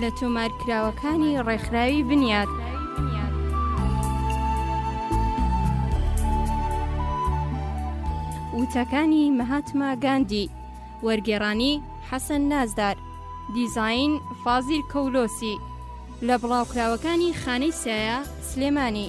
لە تۆمارکراوەکانی ڕێکخراوی بنیات. وتەکانی مەهاتما گاندی وەرگێڕانی حەسەن نازدار دیزین فازیل کەولۆسی لە بڵاوکراوەکانی خانەی سایە سلێمانی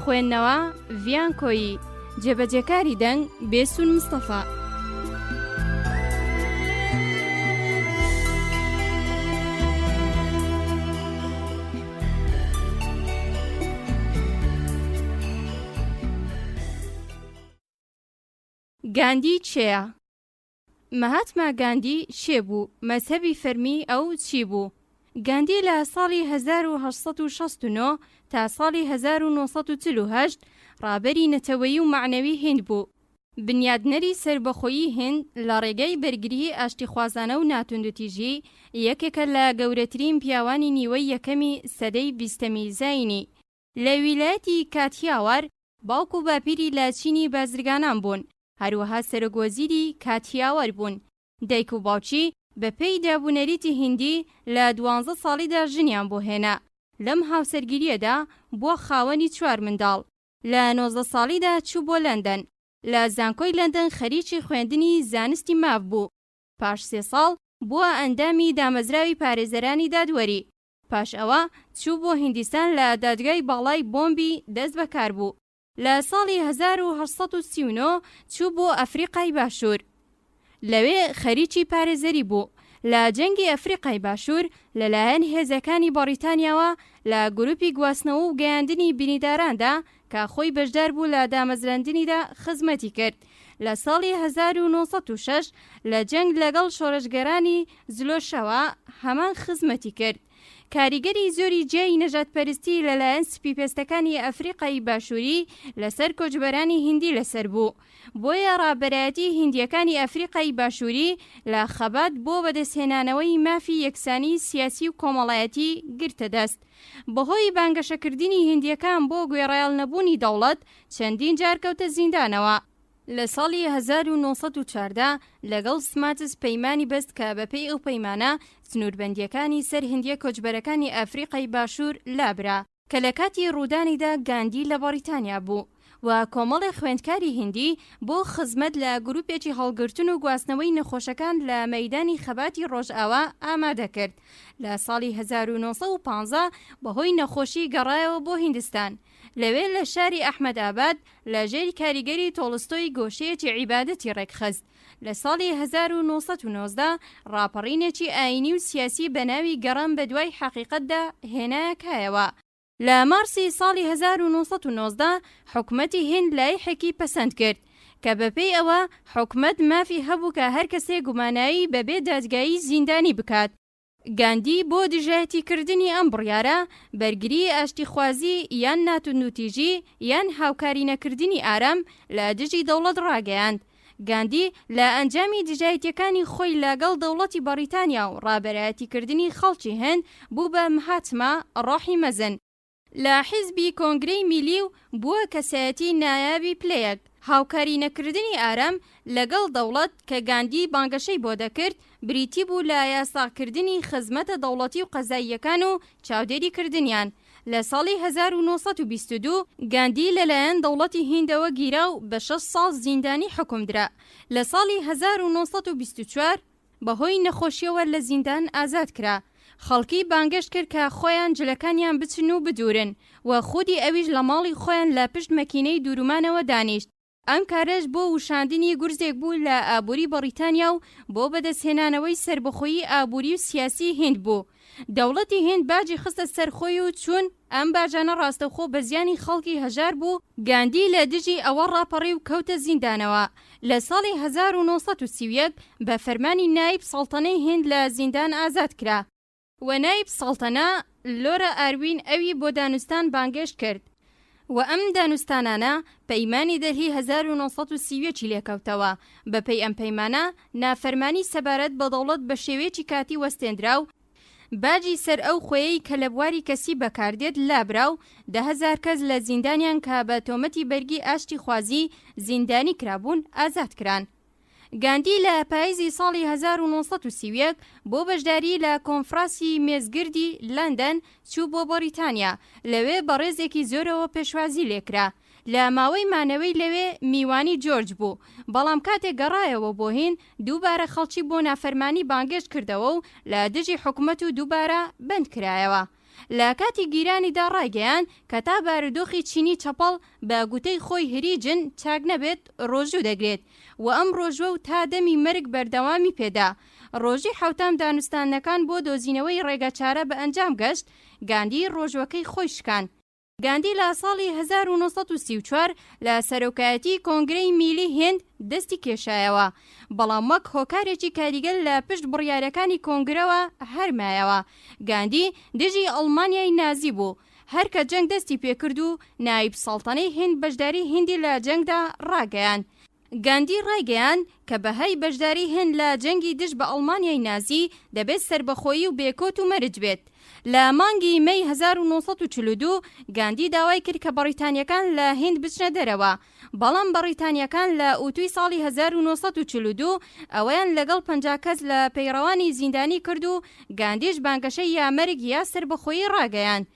خوێندنەوە، ڤیان کۆیی، جێبەجێکاری دەنگ، بێسوون مستەفا. گاندی کێیە؟ مەهاتما گاندی کێ بوو؟ مەزهەبی فەرمیی ئەو چی بوو؟ گاندی لە ساڵی هەزار و هەشت سەد و شەست و نۆ تا ساڵی هەزار و نۆ سەد و چل و هەشت ڕابەری نەتەوەیی و مەعنەوی هیند بوو، بنیادنەری سەربەخۆیی هیند لە ڕێگای بەرگریی ئاشتیخوازانە و ناتوندوتیژی، یەکێکە لە گەورەترین پیاوانی نیوەی یەکەمی سەدەی بیستەمی زایینی. لە ویلایەتی کاتیاوار، باوک و باپیری لە چینی بازرگانان بوون، هەروەها سەرۆک وەزیری کاتیاوار بوون. دایک و باوکی بە پێی داب و نەریتی هیندی لە دوانزە ساڵیدا ژنیان بۆ هێنا. لەم هاوسەرگیرییەدا بووە خاوەنی چوار منداڵ. لە نۆزدە ساڵیدا چوو بۆ لەندەن. لە زانکۆی لەندەن خەریکی خوێندنی زانستی ماف بوو. پاش سێ ساڵ بووە ئەندامی دامەزراوی پارێزەرانی دادوەری. پاش ئەوە چوو بۆ هیندیستان لە دادگای باڵای بۆمبی دەست بەکار بوو. لە ساڵی هەزار و هەشت سەد و سی و نۆ چوو بۆ ئەفریقای باشوور. لەوێ خەریکی پارێزەری بوو لە جەنگی ئەفریقای باشوور لەلایەن هێزەکانی بەڕیتانیاوە لە گروپی گواستنەوە و گەیاندنی بینیداراندا کە خۆی بەشدار بوو لە دامەزراندنیدا خزمەتی کرد لە ساڵی هەزار و نۆ سەد و شەش لە جەنگ لەگەڵ شۆرشگێرانی زلۆشەوە هەمان خزمەتی کرد کاریگەری زۆری جیای نەژادپەرستی لەلایەن سپیپێستەکانی ئەفریقای باشووری لەسەر کۆچبەرانی هیندی لەسەر بوو بۆیە ڕابەرایەتی هیندییەکانی ئەفریقای باشووری لە خەبات بۆ بەدەستهێنانەوەی مافی یەکسانی سیاسی و کۆمەڵایەتی گرتە دەست. بەهۆی بانگەشەکردنی هیندییەکان بۆ گوێڕایەڵ نەبوونی دەوڵەت چەندین جار کەوتە زیندانەوە. لە ساڵی هەزار و نۆ سەد و چواردە لەگەڵ سماتس پەیمانی بەست کە بەپێی ئەو پەیمانە سنووربەندییەکانی سەر هیندییە کۆچبەرەکانی ئەفریقای باشوور لابرا، کە لە کاتی ڕوودانیدا گاندی لە بەڕیتانیا بوو. و کۆمەڵێ خوێندکاری هیندی بۆ خزمەت لە گروپێکی هەڵگرتن و گواستنەوەی نەخۆشەکان لە مەیدانی خەباتی ڕۆژئاوا ئامادە کرد لە ساڵی هەزار و نۆ سەد و پازدە بەهۆی نەخۆشی گەڕایەوە بۆ هیندستان لەوێ لە شاری ئەحمەد ئاباد لە ژێر کاریگەری تۆڵستۆی گۆشەیەکی عیبادەتی ڕێکخست لە ساڵی هەزار و نۆ سەد و نۆزدە ڕاپەڕینێکی ئایینی و سیاسی بە ناوی گەڕان بە دوای حەقیقەتدا هێنایە کایەوە لە مارسی ساڵی هەزار و نۆ سەد و نۆزدە حکومەتی هیند لایحێکی پەسەند کرد کە بەپێی ئەوە حکومەت مافی هەبوو کە هەر کەسێک گوماناوی بەبێ دادگایی زیندانی بکات. گاندی بۆ دژایەتیکردنی ئەم بڕیارە، بەرگریی ئاشتیخوازی یان ناتوندوتیژی یان هاوکاری نەکردنی ئارام لە دژی دەوڵەت ڕاگەیاند. گاندی لە ئەنجامی دژایەتیەکانی خۆی لە گەڵ دەوڵەتی بەڕیتانیا و ڕابەرایەتی کردنی خەڵکی هند بوو بە مهاتما ڕۆحی مەزن لە حیزبی کۆنگرەی میلی و بووە کەسایەتی نایابی پلەیەک. هاوکاری نەکردنی ئارام لە گەڵ دەوڵەت کە گاندی بانگەشەی بۆ دەکرد بریتی بوو لە یاساکردنی خزمەتە دەوڵەتی و قەزاییەکان و چاودێری کردنیان لە ساڵی هەزار و نۆ سەد و بیست و دوو گاندی لەلایەن دەوڵەتی هیندەوە گیرا و بە شەش ساڵ زیندانی حوکم درا، لە ساڵی هەزار و نۆ سەد و بیست و چوار بەهۆی نەخۆشیەوە لە زیندان ئازاد کرا، خەڵکی بانگەشت کرد کە خۆیان جلەکانیان بچن و بدورن و خودی ئەویش لە ماڵی خۆیان لە پشت مەکینەی دورومانەوە دانیشت. ئەم کارەش بۆ وشاندنی گورزێک بوو لە ئابووری بەڕیتانیا و بۆ بەدەستهێنانەوەی سەربەخۆیی ئابووری و سیاسی هیند بوو. دەوڵەتی هیند باجی خستە سەر خۆی و چون ئەم باجانە ڕاستەوخۆ بە زیانی خەڵکی هەژار بوو، گاندی لە دژی ئەوە ڕاپەڕی و کەوتە زیندانەوە لە ساڵی هەزار و نۆ سەد و سی و یەک بە فەرمانی نایب سەڵتەنەی هیند لە زیندان ئازاد کرا. و نایب سەڵتەنە لۆرا ئاروین ئەوی بۆ دانوستان بانگێشت کرد و ئەم دانوستانانە پەیمانی دەلهی هەزار و نۆ سەد و سی و یەک ی لێکەوتەوە، بەپێی ئەم پەیمانە نافەرمانی سەبارەت بە دەوڵەت بە شێوەیەکی کاتی وەستێنرا و باجی سەر ئەو خوێیەی کە لە بواری کەسی بەکاردێت لابرا و دە هەزار کەس لە زیندانیان کە بە تۆمەتی بەرگی ئاشتیخوازی زیندانی کرابوون ئازاد کران. گاندی لە پایزی ساڵی هەزار و نۆ سەد و سی و یەک بۆ بەشداریی لە کۆنفراسی مێزگردی لەندەن چوو بۆ بەڕیتانیا، لەوێ بەڕێزێکی زۆرەوە پێشوازی لێ کرا. لە ماوەی مانەوەی لەوێ میوانی جۆرج بوو، بەڵام کاتێ گەڕایەوە بۆ هیند دووبارە خەڵکی بۆ نافەرمانی بانگێشت کردەوە و لە دژی حکومەت و دووبارە بەند کرایەوە. لە کاتی گیرانیدا ڕایگەیاند کە تا بارودۆخی چینی چەپەڵ بە گوتەی خۆی هریجن چاک نەبێت ڕۆژوو دەگرێت و ئەم ڕۆژوە و تا دەمی مەرگ بەردەوامی پێدا. ڕۆژی حەوتەم دانوستاندنەکان بۆ دۆزینەوەی ڕێگەچارە بە ئەنجام گەشت، گاندی ڕۆژوەکەی خۆی شکان. گاندی لە ساڵی هەزار و نۆ سەد و سی و چوار لە سەرۆکایەتی کۆنگرەی میلی هیند دەستی کێشایەوە، بەڵام وەک هۆکارێکی کاریگەر لە پشت بڕیارەکانی کۆنگرەوە هەر مایەوە. گاندی دژی ئەڵمانیای نازی بوو، هەر کە جەنگ دەستی پێکرد و نایب سەڵتەنەی هیند بەشداری هیندی لە جەنگدا ڕاگەیاند، گاندی ڕایگەیاند کە بەهای بەشداری هند لە جەنگی دژ بە ئەڵمانیای نازی دەبێت سەربەخۆیی و بێکۆت و مەرج بێت. لە مانگی مەی هەزار و نۆ سەد و چل و دوو گاندی داوای کرد کە بەڕیتانییەکان لە هند بچنە دەرەوە، بەڵام بەڕیتانییەکان لە ئوتوی ساڵی هەزار و نۆ سەد و چل و دوو ئەوەیان لەگەڵ پەنجا کەس لە پەیڕەوانی زیندانی کرد و گاندیش بانگەشەی یا مەرگ یا سەربەخۆیی ڕاگەیاند.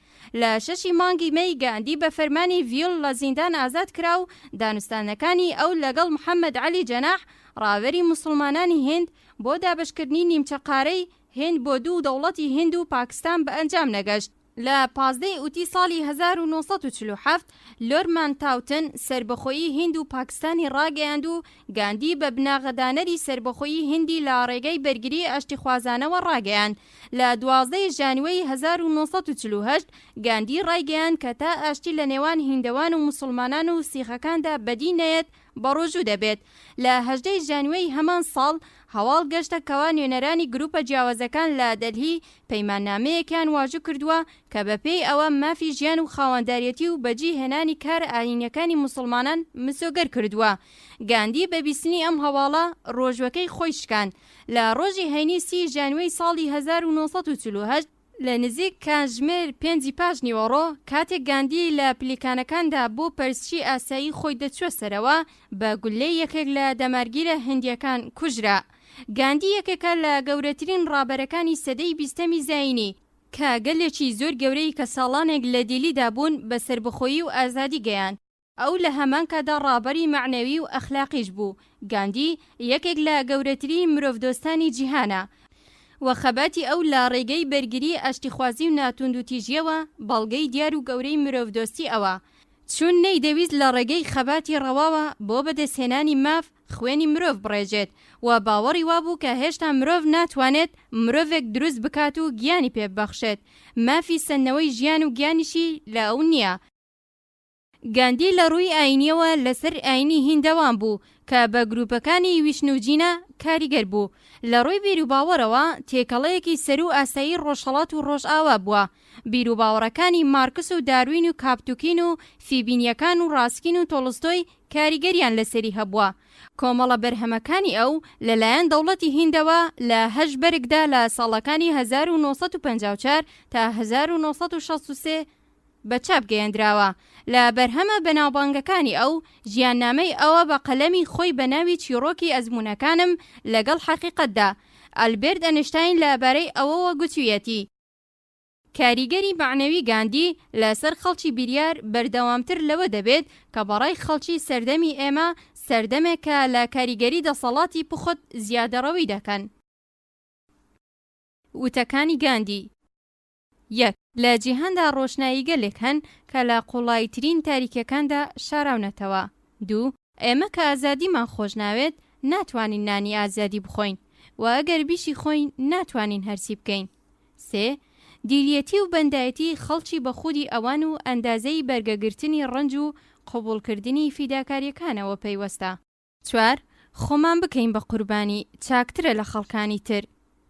لە شەشی مانگی مەی گاندی بە فەرمانی ڤیل لە زیندان ئازاد کرا و دانوستانەکانی ئەو لەگەڵ محەمەد عەلی جەناح، ڕاوێری موسڵمانانی هیند، بۆ دابەشکردنی نیمچە قارەی هیند بۆ دوو دەوڵەتی هیند و پاکستان بە ئەنجام نەگەشت. لە پازدە ی ئوتی ساڵی هەزار و نۆ سەد و چل و حەفت، لۆرد مانتاوتن سەربەخۆیی هیند و پاکستانی ڕاگەیاند و گاندی بە بناغەدانەری سەربەخۆیی هیندی لە ڕێگەی بەرگریی ئاشتیخوازانەوە ڕاگەیاند. لە دوازدە ی ژانیوەی هەزار و نۆ سەد و چل و هەشت گاندی ڕایگەیاند کە تا ئاشتی لە نێوان هیندەوان و موسڵمانان و سیخەکاندا بەدی نەیەت بەڕۆژوو دەبێت. لە هەژدە ی ژانیوەی هەمان ساڵ هەواڵ گەشتە کەوا نوێنەرانی گروپە جیاوازەکان لە دەلهی پەیماننامەیەکیان واژو کردووە کە بە پێی ئەوە مافی ژیان و خاوەنداریەتی و بەجی هێنانی کارە ئاینیەکانی موسڵمانان مسۆگەر کردووە. گاندی بە بیستنی ئەم هەواڵە ڕۆژوەکەی خۆی شکاند. لە ڕۆژی هەینی سی ژانویەی ساڵی هەزار و نۆ سەد و چل و هەشت لە نزیک کاژمێر پێنجی پاش نیوەڕۆ کاتێک گاندی لە پلیکانەکاندا بۆ پەرستشی ئاسایی خۆی دەچووە سەرەوە بە گوللەی یەکێک لە دەمارگیرە هندییەکان کوژرا. گاندی یەکێکە لە گەورەترین ڕابەرەکانی سەدەی بیستەمی زایینی کە گەلێکی زۆر گەورەی کە ساڵانێک لە دیلیدا بوون بە سەربەخۆیی و ئازادی گەیاند. ئەو لە هەمان کاتدا ڕابەری مەعنەوی و ئەخلاقیش بوو. گاندی یەکێک لە گەورەترین مرۆڤدۆستانی جیهانە و خەباتی ئەو لە ڕێگەی بەرگری، ئاشتیخوازی و ناتوندوتیژییەوە بەڵگەی دیار و گەورەی مرۆڤدۆستی ئەوە، چون نەیدەویست لە ڕێگەی خەباتی ڕەواوە بۆ بەدەستهێنانی ماف خوێنی مرۆڤ بڕێژێت و باوەڕی وابوو کە هێشتا مرۆڤ ناتوانێت مرۆڤێک دروست بکات و گیانی پێببەخشێت، مافی سەندنەوەی ژیان و گیانیشی لە ئەو نییە. گاندی لە ڕووی ئایینییەوە لەسەر ئایینی هیندەوان بوو کە بە گرووپەکانی ویشنو جینا کاریگەر بوو. لە ڕووی بیروباوەڕەوە تێکەڵەیەکی سەروو ئاسایی ڕۆژهەڵات و ڕۆژئاوا بووە. بیروباوەڕەکانی مارکس و داروین و کاپتوکین و فیبینییەکان و ڕاسکین و تۆڵستۆی کاریگەرییان لەسەری هەبووە. کۆمەڵە بەرهەمەکانی ئەو لەلایەن دەوڵەتی هیندەوە لە هەشت بەرگدا لە ساڵەکانی هەزار و نۆ سەد و پەنجا و چوار تا هەزار و نۆ سەد و شەست و سێ، بە چاپ گەیەندراوە. لە بەرهەمە بەناوبانگەکانی ئەو، ژیاننامەی ئەوە بە قەلەمی خۆی بە ناوی چیڕۆکی ئەزموونەکانم لەگەڵ حەقیقەتدا. ئەلبێرت ئەنشتاین لە بارەی ئەوەوە گوتوویەتی، کاریگەری مەعنەوی گاندی لە سەر خەڵکی بیریار بەردەوامتر لەوە دەبێت کە بە ڕای خەڵکی سەردەمی ئێمە سەردەمێکە لە کاریگەری دەسەڵاتی پوخت زیادەڕەوی دەکەن. وتەکانی گاندی. یەک، لە جیهاندا ڕۆشناییگەلێک هەن کە لە قووڵاییترین تاریکییەکاندا شاراونەتەوە. دوو، ئێمە کە ئازادیمان خۆش ناوێت، ناتوانین نانی ئازادی بخۆین و ئەگەر بیشیخۆین، ناتوانین هەرچی بکەین. سێ، دیلیەتی و بەندایەتی خەڵکی بە خودی ئەوان و ئەندازەی بەرگەگرتنی ڕەنج و قبووڵکردنی فیداکارییەکانەوە پەیوەستە. چوار، خۆمان بکەین بە قوربانی، چاکترە لە خەڵکانی تر.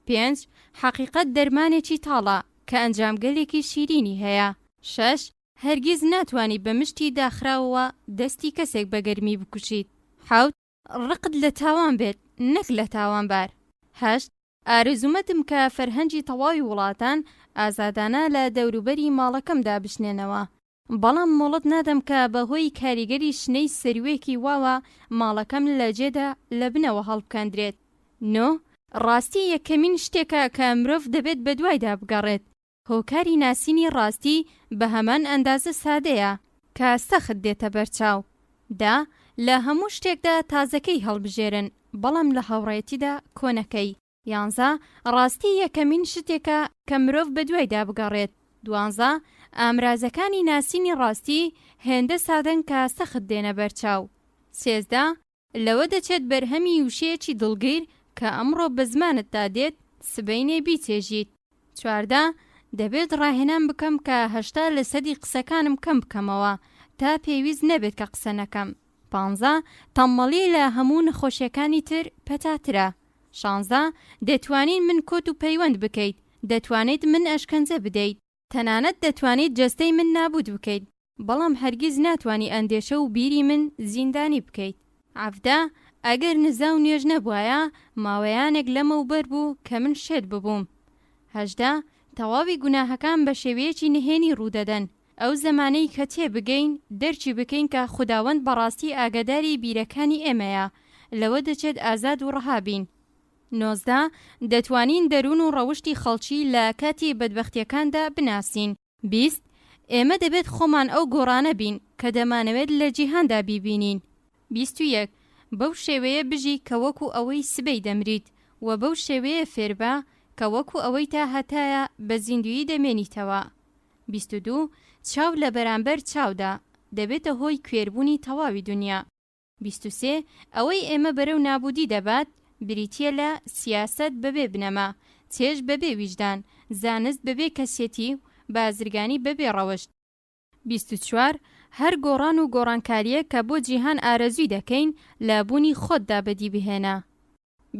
پێنج، حەقیقەت دەرمانێکی تاڵە، کە ئەنجامگەلێکی شیرینی هەیە. شەش، هەرگیز ناتوانی بە مشتی داخراوەوە دەستی کەسێک بە گەرمی بکوشیت. حەوت، ڕقت لە تاوان بێت، نەک لە تاوانبار. هەشت، ئارەزوومەدم کە فەرهەنگی تەواوی وڵاتان ئازادانە لە دەوروبەری ماڵەکەم دابچنێنەوە. بەڵام مۆڵەت نادەم کە بە هۆی کاریگەری شنەی سروێکی واوە ماڵەکەم لە جێدا لە بنەوە هەڵبکەندرێت. نۆ. ڕاستی یەکەمین شتێکە کە مرۆڤ دەبێت بە دوایدا بگەڕێت. هۆکاری ناسینی ڕاستی بە هەمان ئەندازە سادەیە کە سەخت دێتە بەرچاو. دە. لە هەموو شتێکدا تازەکەی هەڵبژێرن بەڵام لە هاوڕێیەتیدا کۆنەکەی. یانزە، ڕاستی یەکەمین شتێکە کە مرۆڤ بەدوایدا بگەڕێت. دوانزە، ئامرازەکانی ناسینی ڕاستی هێندە سادەن کە سەخت دێنە بەرچاو. سێزدە، لەوە دەچێت بەرهەمی وشەیەکی دڵگیر کە ئەمڕۆ بە زمانتدا دێت، سبەینێ بیچێژیت. چواردە، دەبێت ڕاهێنان بکەم کە هەشتا لە سەدی قسەکانم کەم بکەمەوە تا پێویست نەبێت کە قسە نەکەم. پانزە، تەممەڵی لە هەموو نەخۆشیەکانی تر پەتاترە. شانزە، دەتوانین من کۆت و پەیوەند بکەیت، دەتوانیت من ئەشکەنجە بدەیت، تەنانەت دەتوانیت جەستەی من نابووت بکەیت، بەڵام هەرگیز ناتوانی ئەندێشە و بیری من زیندانی بکەیت. عەڤدە، ئەگەر نزا و نوێژ نەبوایە، ماوەیانێک لەمەو بەر بوو کە من شێت ببووم. هەژدە، تەواوی گوناهەکان بە شێوەیەکی نهێنی ڕوو دەدەن. ئەو زەمانەی کە تێ بگەین، دەرکی بکەین کە خوداوەند بەڕاستی ئاگاداری بیرەکانی ئێمەیە، لەوە دەچێت ئازاد و ڕەها بین. نۆزدە، دەتوانین دەروون و ڕەوشتی خەڵکی لە کاتی بەدبەختییەکاندا بناسین. بیست، ئێمە دەبێت خۆمان ئەو گۆڕانە بین کە دەمانەوێت لە جیهاندا بیبینین. بیست و یەک، بەو شێوەیە بژی کە وەکو ئەوەی سبەی دەمریت، وە بەو شێوەیە فێربە کە وەکو ئەوەی تا هەتایە بە زیندویی دەمێنیتەوە. بیست و دوو، چاو لە بەرامبەر چاودا، دەبێتە هۆی کوێربوونی تەواوی دونیا. بیست و سێ، ئەوەی ئێمە بەرەو نابوودی دەبات، بریتییە لە، سیاسەت بەبێ بنەما، چێژ بەبێ ویژدان، زانست بەبێ کەسێتی و بازرگانی بەبێ ڕەوشت. بیست و چوار، هەر گۆڕان و گۆڕانکارییەک کە بۆ جیهان ئارەزووی دەکەین، لە بوونی خۆتدا بەدی بهێنە.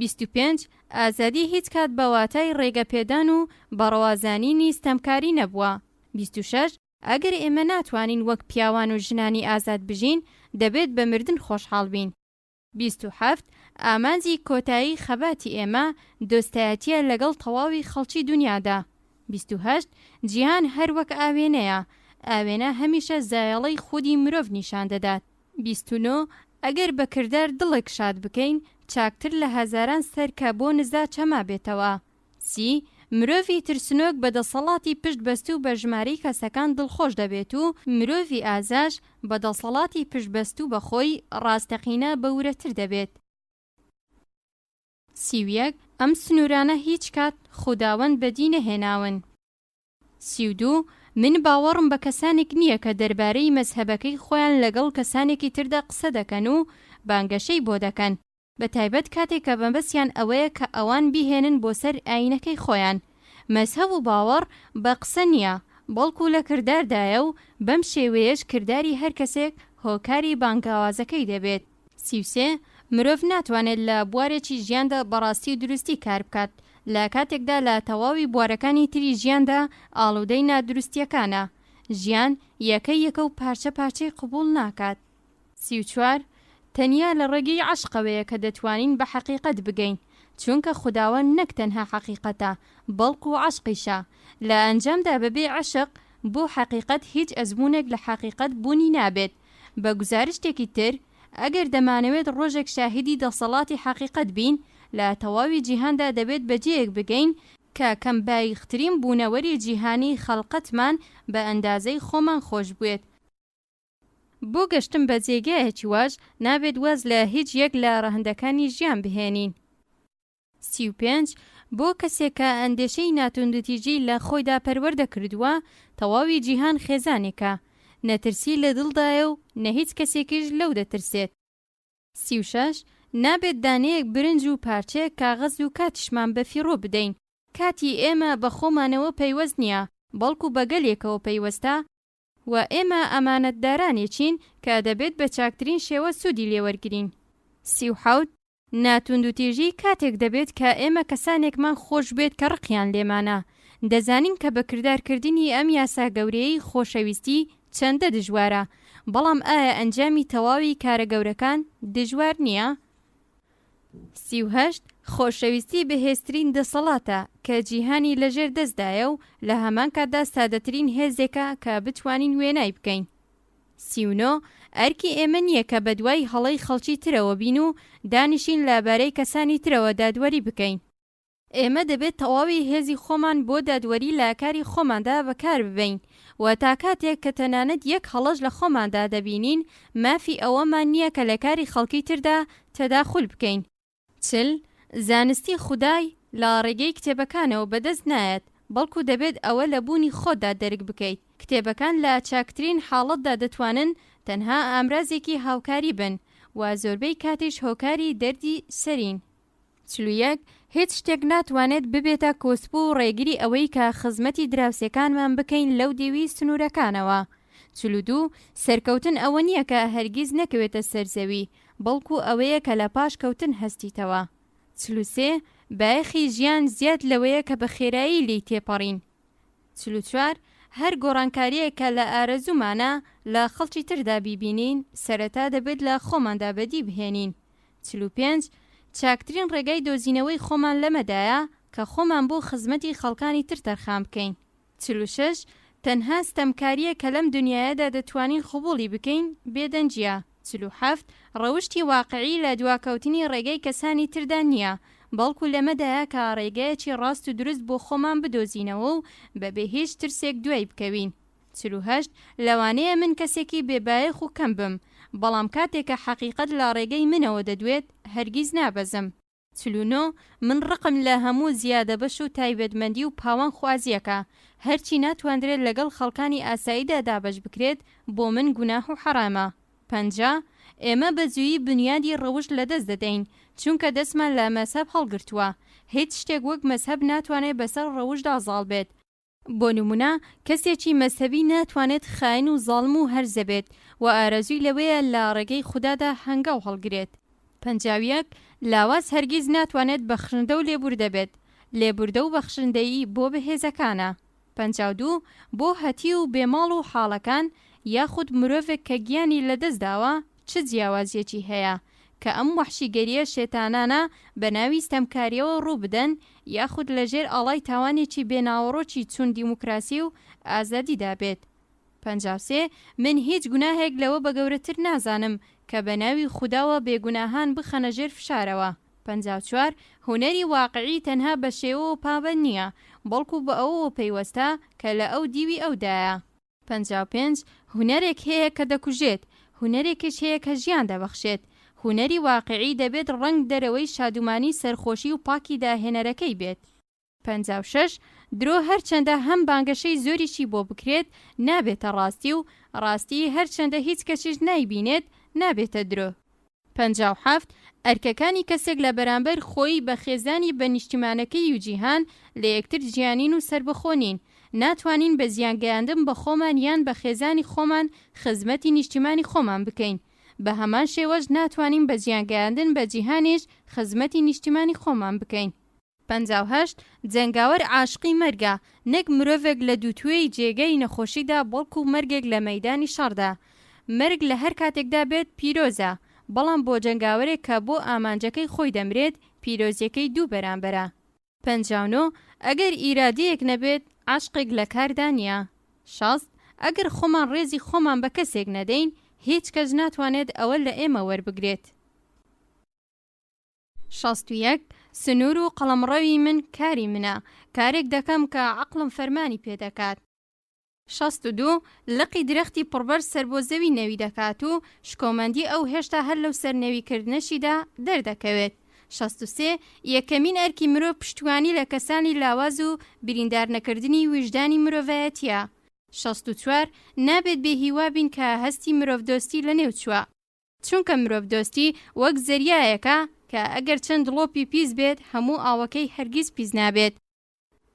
بیست و پێنج، ئازادی هیچ کات بە واتای ڕێگەپێدان و بەڕەوازانینی ستەمکاری نەبووە. بیست و شەش، ئەگەر ئێمە ناتوانین وەک پیاوان و ژنانی ئازاد بژین، دەبێت بە مردن خۆشحاڵ بین. بیست و حەفت، ئامانجی کۆتایی خەباتی ئێمە، دۆستایەتییە لەگەڵ تەواوی خەڵکی دونیادا. بیست و هەشت، جیهان هەر وەک ئاوێنەیە، ئاوێنە هەمیشە زایەڵەی خودی مرۆڤ نیشان دەدات. بیست و نۆ، ئەگەر بە کردار دڵێک شاد بکەین، چاکتر لە هەزاران سەر کە بۆ نزا چەمابێتەوە. سی، مرۆڤی ترسنۆک بە دەسەڵاتی پشت بەستوو بە ژمارەی کەسەکان دڵخۆش دەبێت و مرۆڤی ئازاش بە دەسەڵاتی پشت بەستوو بە خۆی ڕاستەقینە بە ورەتر دەبێت. سی و یەک، ئەم سنوورانە هیچ کات خوداوەند بەدی نەهێناون. سی و دوو، من باوەڕم بە کەسانێک نییە کە دەربارەی مەزهەبەکەی خۆیان لەگەڵ کەسانێکی تردا قسە دەکەن و بانگەشەی بۆ دەکەن، بە تایبەت کاتێک کە مەبەستیان ئەوەیە کە ئەوان بیهێنن بۆ سەر ئایینەکەی خۆیان. مەزهەب و باوەڕ بە قسە نییە، بەڵکو لە کرداردایە و بەم شێوەیەش کرداری هەر کەسێک هۆکاری بانگاوازەکەی دەبێت. سی و سێ، مرۆڤ ناتوانێت لە بوارێکی ژیاندا بە ڕاستی و دروستی کار بکات، لە کاتێکدا لە تەواوی بوارەکانی تری ژیاندا ئاڵودەی نادروستییەکانە. ژیان یەکە یەکە و پارچە پارچەی قبووڵ ناکات. سی و چوار، تەنیا لە ڕێگەی عەشقەوەیە کە دەتوانین بە حەقیقەت بگەین، چونکە خوداوەند نەک تەنها حەقیقەتە، بەڵکو عەشقیشە. لە ئەنجامدا بەبێ عەشق بۆ حەقیقەت هیچ ئەزموونێک لە حەقیقەت بوونی نابێت، بە گوزارشتێکی تر، ئەگەر دەمانەوێت ڕۆژێک شاهیدی دەسەڵاتی حەقیقەت بین، لە تەواوی جیهاندا دەبێت بە جێیەک بگەین کە کەم باییخترین بوونەوەری جیهانی خەڵقەتمان بە ئەندازەی خۆمان خۆش بوێت. بۆ گەشتن بە جێگایەکی واش، نابێت واز لە هیچ یەک لە ڕەهەندەکانی ژیان بهێنین. سی و پێنج، بۆ کەسێک کە ئەندێشەی ناتوندوتیژی لە خۆیدا پەروەردە کردووە، تەواوی جیهان خێزانێکە، نە ترسی لە دڵدایە و نە هیچ کەسێکیش لەو دەترسێت. سی و شەش، نابێت دانەیەک برنج و پارچەیەک کاغەز و کاتیشمان بە فیڕۆ بدەین، کاتی ئێمە بە خۆمانەوە پەیوەست نییە، بەڵکو بە گەلێکەوە پەیوەستە، و ئێمە ئەمانەتدارانێکین کە دەبێت بە چاکترین شێوە سوودی لێ وەرگرین. سی و حەوت، نا توندوتیژی کاتێک دەبێت کە ئێمە کەسانێکمان خۆش بێت کە ڕقیان لێمانە. دەزانین کە بە کردار کردنی ئەم یاسا گەورەیەی خۆشەویستی چەندە دژوارە، بەڵام ئایا ئەنجامی تەواوی کارە گەورەکان دژوار نییە؟ سی و هەشت، خۆشەویستی بەهێزترین دەسەڵاتە کە جیهانی لەژێر دەستدایە و لە هەمان کاتدا سادەترین هێزێکە کە بتوانین وێنای بکەین. سی و نۆ، ئەرکی ئێمە نییە کە بەدوای هەڵەی خەڵکی ترەوە بین و دانیشین لە بارەی کەسانی ترەوە دادوەری بکەین، ئێمە دەبێت تەواوی هێزی خۆمان بۆ دادوەری لە کاری خۆماندا بەکار ببەین و تا کاتێک کە تەنانەت یەک هەڵەش لە خۆماندا دەبینین مافی ئەوەمان نییە کە لە کاری خەڵکی تردا تەداخول بکەین. چل، زانستی خودای لە ڕێگەی کتێبەکانەوە بەدەست نایەت، بەڵکو دەبێت ئەوە لە بوونی خۆتدا دەرک بکەیت. کتێبەکان لە چاکترین حاڵەتدا دەتوانن تەنها ئامرازێکی هاوکاری بن و زۆربەی کاتیش هۆکاری دەردی سەرین. چل و یەک، هیچ شتێک ناتوانێت ببێتە کۆسپو و ڕێگری ئەوەی کە خزمەتی دراوسێکانمان بکەین لەو دێوی سنورەکانەوە. چل و دوو، سەرکەوتن ئەوە نییە کە هەرگیز نەکەوێتە سەر زەوی، بەڵکو ئەوەیە کە لە پاش کەوتن هەستیتەوە. چل و سێ، بایەخی ژیان زیاد لەوەیە کە بە خێرایی لێی تێپەڕین. چل و چوار، هەر گۆڕانکارییەک کە لە ئارەزوومانە لە خەڵکی تردا بیبینین، سەرەتا دەبێت لە خۆماندا بەدی بهێنین. چل و پێنج، چاکترین ڕێگای دۆزینەوەی خۆمان لەمەدایە کە خۆمان بۆ خزمەتی خەڵکانی تر تەرخان بکەین. چل و شەش، تەنها ستەمکارییەک کە لەم دونیایەدا دەتوانین قبوڵی بکەین، بێدەنگییە. چل و حەفت، ڕەوشتی واقعی لە دواکەوتنی ڕێگەی کەسانی تردا نییە، بەڵکو لەمەدایە کە ڕێگەیەکی ڕاست و دروست بۆ خۆمان بدۆزینەوە و بەبێ هیچ ترسێک دوای بکەوین. چل و هەشت، لەوانەیە من کەسێکی بێ بایەخ و کەم بم، بەڵام کاتێک کە حەقیقەت لە ڕێگەی منەوە دەدوێت، هەرگیز نابەزم. چل و نۆ، من ڕقم لە هەموو زیادەبەش و تایبەتمەندی و پاوانخوازییەکە، هەرچی ناتواندرێت لەگەڵ خەڵکانی ئاساییدا دابەش بکرێت بۆ من گوناح و حەرامە. پەنجا، ئێمە بە زوویی بنیادی ڕەوشت لەدەست دەدەین، چونکە دەستمان لە مەزهەب هەڵگرتووە، هیچ شتێک وەک مەزهەب ناتوانێت بەسەر ڕەوشتدا زاڵ بێت، بۆ نمونە کەسێکی مەزهەبی ناتوانێت خاین و زاڵم و هەرزە بێت و ئارەزوی لەوەیە لە ڕێگەی خودادا هەنگاو هەڵگرێت. پەنجاویەک، لاواز هەرگیز ناتوانێت بەخشندە و لێبوردە بێت، لێبوردە و بەخشندەیی بۆ بەهێزەکانە. پەنجاو دوو، بۆ هەتیو و بێماڵ و حاڵەکان، یاخود مرۆڤێک کە گیانی لەدەستداوە، چ جیاوازیەکی هەیە کە ئەم وەحشیگەریە شێتانانە بە ناوی ستەمکاریەوە ڕوو بدەن یاخود لە ژێر ئاڵای تاوانێکی بێ ناوەڕۆکی چون دیموکراسی و ئازادیدا بێت؟ پەنجا و سێ، من هیچ گوناهێک لەوە بە گەورەتر نازانم کە بە ناوی خوداوە بێ گوناهان بخەنە ژێر فشارەوە. پەنجا و چوار، هونەری واقعی تەنها بە شێوەوە پابەند نیە، بەڵکو بە ئەوەوە پەیوەستە کە لە ئەو دیوی ئەودایە. پەنجا و پێنج، هونەرێک هەیە کە دەکوژێت، هونەرێکش هەیە کە ژیان دەبەخشێت. هونەری واقیعی دەبێت ڕەنگ دەرەوەی شادومانی سەرخۆشی و پاکی داهێنەرەکەی بێت. پەنجا و شەش، درۆ هەرچەندە هەم بانگەشەی زۆریشی بۆ بکرێت، نابێتە ڕاستی و ڕاستی هەرچەندە هیچ کەسیش نایبینێت، نابێتە درۆ. پەنجا و حەفت، ئەرکەکانی کەسێک لە بەرامبەر خۆی، بە خێزانی، بە نیشتیمانەکەی و جیهان، لە یەکتر جیانین و سەربەخۆ نین. ناتوانین بە زیان گەیاندن بە خۆمان یان بە خێزانی خۆمان خزمەتی نیشتیمانی خۆمان بکەین. بە هەمان شێوەش ناتوانین بە زیان گەیاندن بە جیهانیش خزمەتی نیشتیمانی خۆمان بکەین. پەنجا و هەشت، جەنگاوەر عاشقی مەرگە، نەک مرۆڤێک لە دووتوێی جێگەی نەخۆشیدا بەڵکو مەرگێک لە مەیدانی شەڕدا. مەرگ لە هەر کاتێکدا بێت پیرۆزە، بەڵام بۆ جەنگاوەرێک کە بۆ ئامانجەکەی خۆی دەمرێت پیرۆزیەکەی دوو بەرامبەرە. پەنجا و نۆ، ئەگەر ئیرادەیەک نەبێت عەشقێک لە کاردا نیە. شەست، ئەگەر خۆمان ڕێزی خۆمان بە کەسێک نەدەین هیچ کەس ناتوانێت ئەوە لە ئێمە وەربگرێت. شەست و یەک، سنوور و قەڵەمڕەوی من کاری منە، کارێک دەکەم کە عەقڵم فەرمانی پێ دەکات. شەست و دوو، لقی درەختی پڕبەرز سەر بۆ زەوی نەوی دەکات و شکۆمەندی ئەو هێشتا هەر لەو سەر نەوی کردنەشیدا دەردەکەوێت. شەست و سێ، یەکەمین ئەرکی مرۆڤ پشتیوانی لە کەسانی لاواز و بریندار نەکردنی ویژدانی مرۆڤایەتییە. شەست و چوار، نابێت بێ هیوا بین کە هەستی مرۆڤدۆستی لەنێو چووە. چونکە مرۆڤدۆستی وەک زەریایەکە کە ئەگەر چەند دڵۆپی پیس بێت هەموو ئاوەکەی هەرگیز پیس نابێت.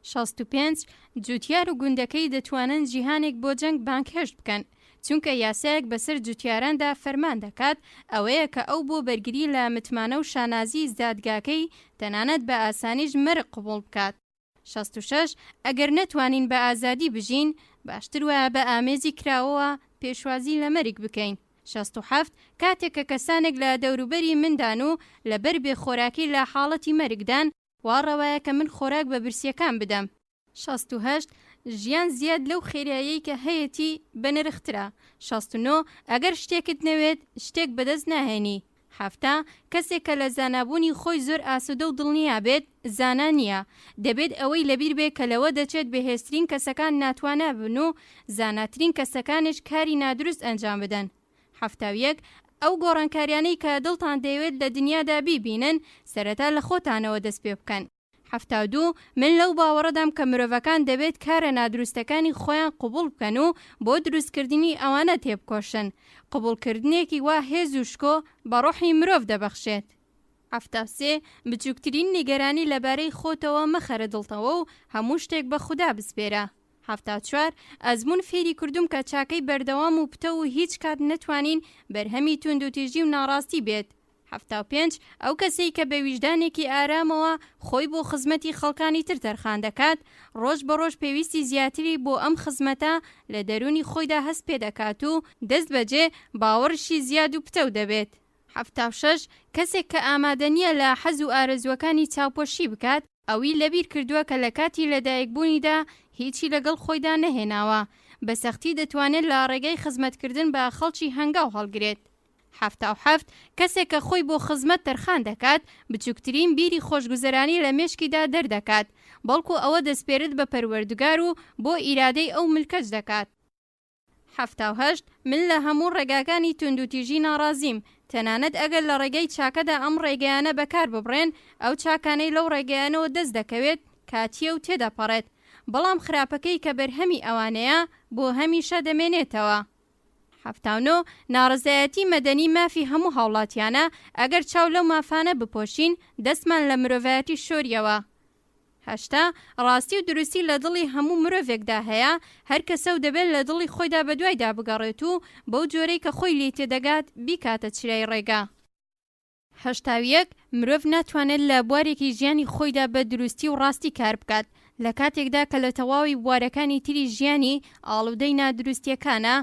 شەست و پێنج، جوتیار و گوندەکەی دەتوانن جیهانێک بۆ جەنگ بانگهێشت بکەن، چونکە یاسایەک بەسەر جوتیاراندا فەرمان دەکات، ئەوەیە کە ئەو بۆ بەرگری لە متمانە و شانازیی زادگاکەی، تەنانەت بە ئاسانیش مەرگ قبوڵ بکات. شەست و شەش، ئەگەر نەتوانین بە ئازادی بژین، باشتر وایە بە ئامێزی کراوەوە پێشوازی لە مەرگ بکەین. شەست و حەفت، کاتێک کە کەسانێک لە دەوروبەری مندان و لەبەر بێ خۆراکی لە حاڵەتی مەرگدان، وا ڕەوایە کە من خۆراک بە برسییەکان بدەم. شەست و هەشت، ژیان زیاد لەو خێرایەی کە هەیەتی بەنرخترە. شەست و نۆ، ئەگەر شتێکت نەوێت، شتێک بەدەست ناهێنی. حەفتا، کەسێک کە لە زانابوونی خۆی زۆر ئاسوودە و دڵنیا بێت، زانا نییە. دەبێت ئەوەی لەبیر بێ کە لەوە دەچێت بەهێزترین کەسەکان ناتوانا بن و زاناترین کەسەکانش کاری نادروست ئەنجام بدەن. حەفتا و یەک، ئەو گۆڕانکاریانەی کە دڵتان دەیەوێت لە دنیادا بیبینن، سەرەتا لە خۆتانەوە دەست پێ بکەن. حەفتا و دوو، من لەو باوەڕەدام کە مرۆڤەکان دەبێت کارە نادروستەکانی خۆیان قبوڵ بکەن و بۆ دروستکردنی ئەوانە تێبکۆشن. قبوڵکردنێکی وا هێز و شکۆ بە ڕۆحی مرۆڤ دەبەخشێت. حەفتا و سێ، بچووکترین نیگەرانی لەبارەی خۆتەوە مەخەرە دڵتەوە و هەموو شتێک بە خودا بسپێرە. حەفتا و چوار، ئەزموون فێری کردووم کە چاکەی بەردەوام و پتەو و هیچ کات نەتوانین بەرهەمی توندوتیژی و ناڕاستی بێت. حەفتا و پێنج، ئەو کەسەی کە بە ویژدانێکی ئارامەوە خۆی بۆ خزمەتی خەڵکانی تر تەرخان دەکات، ڕۆژ بە ڕۆژ پێویستی زیاتری بۆ ئەم خزمەتە لە دەروونی خۆیدا هەست پێ دەکات و دەست بەجێ باوەڕیشی زیاد و پتەو دەبێت. حەفتا و شەش، کەسێک کە ئامادە نییە لە حەز و ئارەزووەکانی چاوپۆشی بکات، ئەوی لەبیر کردووە کە لە کاتی لەدایکبوونیدا هیچی لەگەڵ خۆیدا نەهێناوە، بە سەختی دەتوانێت لە ڕێگای خزمەتکردن بە خەڵکی هەنگاو هەڵگرێت. حەفتا و حەفت، کەسێک کە خۆی بۆ خزمەت تەرخان دەکات، بچووکترین بیری خۆشگوزەرانی لە مێشکیدا دەردەکات، بەڵکو ئەوە دەسپێرت بە پەروەردگار و بۆ ئیرادەی ئەو ملکەچ دەکات. حەفتا و هەشت، من لە هەموو ڕێگاکانی توندوتیژی ناڕازیم، تەنانەت ئەگەر لە ڕێگای چاکەدا ئەم ڕێگایانە بەکار ببرێن، ئەو چاکانەی لەو ڕێگایانەوە دەست دەکەوێت کاتییە و تێدەپەڕێت، بەڵام خراپەکەی کە بەرهەمی ئەوانەیە، بۆ هەمیشە دەمێنێتەوە. حەفتا و نۆ، ناڕەزایەتی مەدەنی مافی هەموو هاوڵاتیانە، ئەگەر چاو لەو مافانە بپۆشین، دەستمان لە مرۆڤایەتی شۆریەوە. هەشتا، ڕاستی و دروستی لە دڵی هەموو مرۆڤێکدا هەیە، هەر کەسە و دەبێت لە دڵی خۆیدا بەدوایدا بگەڕێت و بەو جۆرەی کە خۆی لێی تێدەگات بیکاتە چرای ڕێگا. هەشتا و یەک، مرۆڤ ناتوانێت لە بوارێکی ژیانی خۆیدا بە دروستی و ڕاستی کار بکات، لە کاتێکدا کە لە تەواوی بوارەکانی تری ژیانی ئاڵودەی نادروستییەکانە،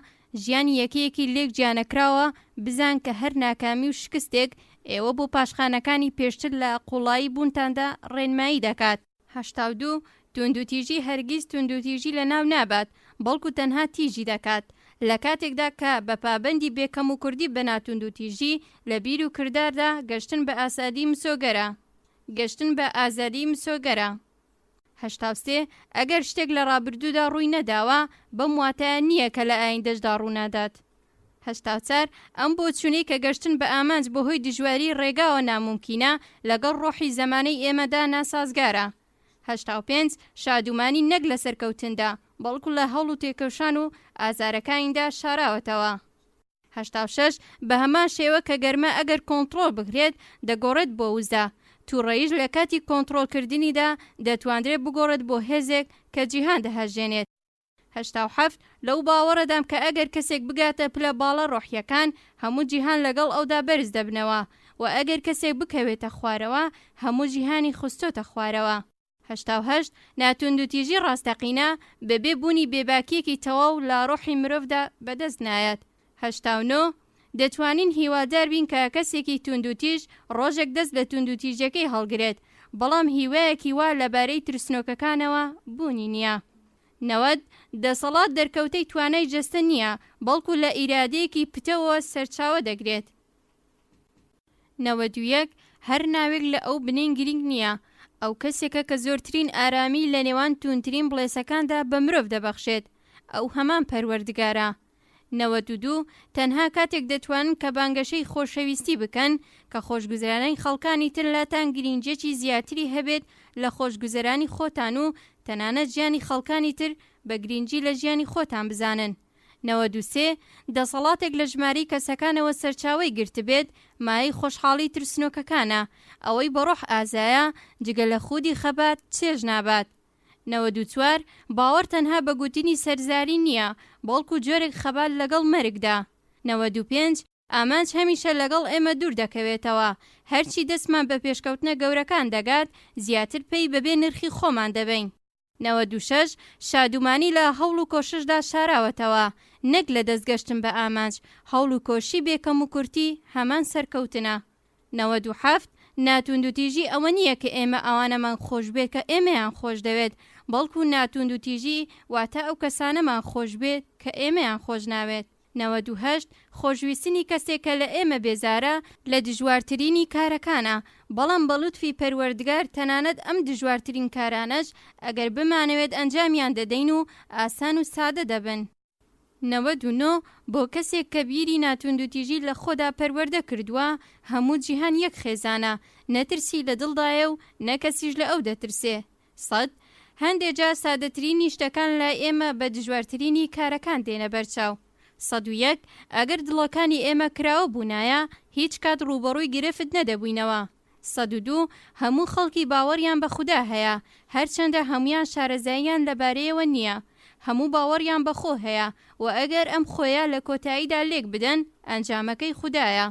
ژیانی یەکەیەکی لێک جیانەکراوە، بزان کە هەر ناکامی و شکستێک ئێوە بۆ پاشخانەکانی پێشتر لە قوڵایی بوونتاندا ڕێنمایی دەکات. هەشتا و دوو، توندوتیژی هەرگیز توندوتیژی لەناو نابات، بەڵکو تەنها تیژی دەکات. لە کاتێکدا کە بە پابەندی بێ کەموکوردی بە ناتوندوتیژی، لە بیر و کرداردا، گەشتن بە ئاسادی مسۆگەرە. گەشتن بە ئازادی مسۆگەرە. هەشتا و سێ، ئەگەر شتێک لە ڕابردوودا ڕووی نەداوە، بەم واتایە نییە کە لە ئایندەشدا ڕوونادات. هەشتا و چوار، ئەم بۆچوونەی کە گەشتن بە ئامانج بەهۆی دژواریی ڕێگاوە نامومکینە، لەگەڵ ڕۆحی زەمانەی ئێمەدا ناسازگارە. هەشتا و پێنج، شادومانی نەک لە سەرکەوتندا، بەڵکو لە هەوڵ و تێکۆشان و ئازارەکانیدا شاراوەتەوە. هەشتا و شەش، بەهەمان شێوە کە گەرما ئەگەر کۆنتڕۆڵ بکرێت دەگۆڕێت بۆ وزە، تووڕەییش لە کاتی کۆنتڕۆڵکردنیدا دەتوانرێت بگۆڕێت بۆ هێزێک کە جیهان دەهەژێنێت. هەشتا و حەفت، لەو باوەڕەدام کە ئەگەر کەسێک بگاتە پلە باڵا ڕۆحییەکان، هەموو جیهان لەگەڵ ئەودا بەرز دەبنەوە، وە ئەگەر کەسێک بکەوێتە خوارەوە، هەموو جیهانی خستۆتە خوارەوە. هەشتا و هەشت، ناتوندوتیژی ڕاستەقینە، بەبێ بوونی بێباکییەکی تەواو لە ڕۆحی مرۆڤدا بەدەست نایەت. هەشتا و نۆ، دەتوانین هیوادار بین کە کەسێکی توندوتیژ ڕۆژێک دەست لە توندوتیژیەکەی هەڵگرێت، بەڵام هیوایەکی وا لەبارەی ترسنۆکەکانەوە بوونی نییە. نەوەد، دەسەڵات دەرکەوتەی توانای جەستە نییە، بەڵکو لە ئیرادەیەکی پتەوە سەرچاوە دەگرێت. نەوەد و یەک، هەر ناوێک لە ئەو بنین گرینگ نییە، ئەو کەسێکە کە زۆرترین ئارامی لە نێوان توندترین بڵێسەکاندا بە مرۆڤ دەبەخشێت، ئەو هەمان پەروەردگارە. نەوەد و دوو، تەنها کاتێک دەتوانن کە بانگەشەی خۆشەویستی بکەن کە خۆشگوزەرانیی خەڵکانی تر لاتان گرینگییەکی زیاتری هەبێت لە خۆشگوزەرانی خۆتان و تەنانەت ژیانی خەڵکانی تر بە گرینگی لە ژیانی خۆتان بزانن. نەوەد و سێ، دەسەڵاتێک لە ژمارەی کەسەکانەوە سەرچاوەی گرتبێت، مایەی خۆشحاڵیی ترسنۆکەکانە، ئەوەی بە ڕۆح ئازایە، جگە لە خوودی خەبات، چێژ نابات. نەوەد و چوار، باوەڕ تەنها بە گوتنی سەرزاری نییە، بەڵکو جۆرێک خەبات لەگەڵ مەرگدا. نەوەد و پێنج، ئامانج هەمیشە لەگەڵ ئێمە دوور دەکەوێتەوە، هەرچی دەستمان بە پێشکەوتنە گەورەکان دەگات، زیاتر پێی بەبێ نرخی خۆمان دەبەین. نەوەد و شەش، شادومانی لە هەوڵ و کۆششدا شاراوەتەوە، نەک لە دەستگەشتن بە ئامانج، هەوڵ و کۆششی بێ کەموکورتی هەمان سەرکەوتنە. نەوەد و حەفت، ناتوندوتیژی ئەوە نییە کە ئێمە ئەوانەمان خۆش بێت کە ئێمەیان خۆش دەوێت، بەڵکو ناتوندوتیژی واتە ئەو کەسانەمان خۆش بێت کە ئێمەیان خۆش ناوێت. نەوەد و هەشت، خۆشویستنی کەسێک کە لە ئێمە بێزارە لە دژوارترینی کارەکانە، بەڵام بە لوتفی پەروەردگار تەنانەت ئەم دژوارترین کارانەش ئەگەر بمانەوێت ئەنجامیان دەدەین و ئاسان و سادە دەبن. نەوەد و نۆ، بۆ کەسێک کە بیری ناتوندوتیژی لە خۆدا پەروەردە کردووە، هەموو جیهان یەک خێزانە، نە ترسی لە دڵدایە و نە کەسیش لە ئەو دەترسێ. سەد، هەندێ جار سادەترینی شتەکان لای ئێمە بە دژوارترینی کارەکان دێنە بەر چاو. سەد و یەک، ئەگەر دڵەکانی ئێمە کراوە بوونایە، هیچ کات ڕووبەڕووی گرفت نەدەبووینەوە. سەد و دوو، هەموو خەڵکی باوەڕیان بە خودا هەیە، هەرچەندە هەموویان شارەزاییان لەبارەیەوە نییە. هەموو باوەڕیان بە خۆ هەیە و ئەگەر ئەم خۆیە لە کۆتاییدا لێک بدەن، ئەنجامەکەی خودایە.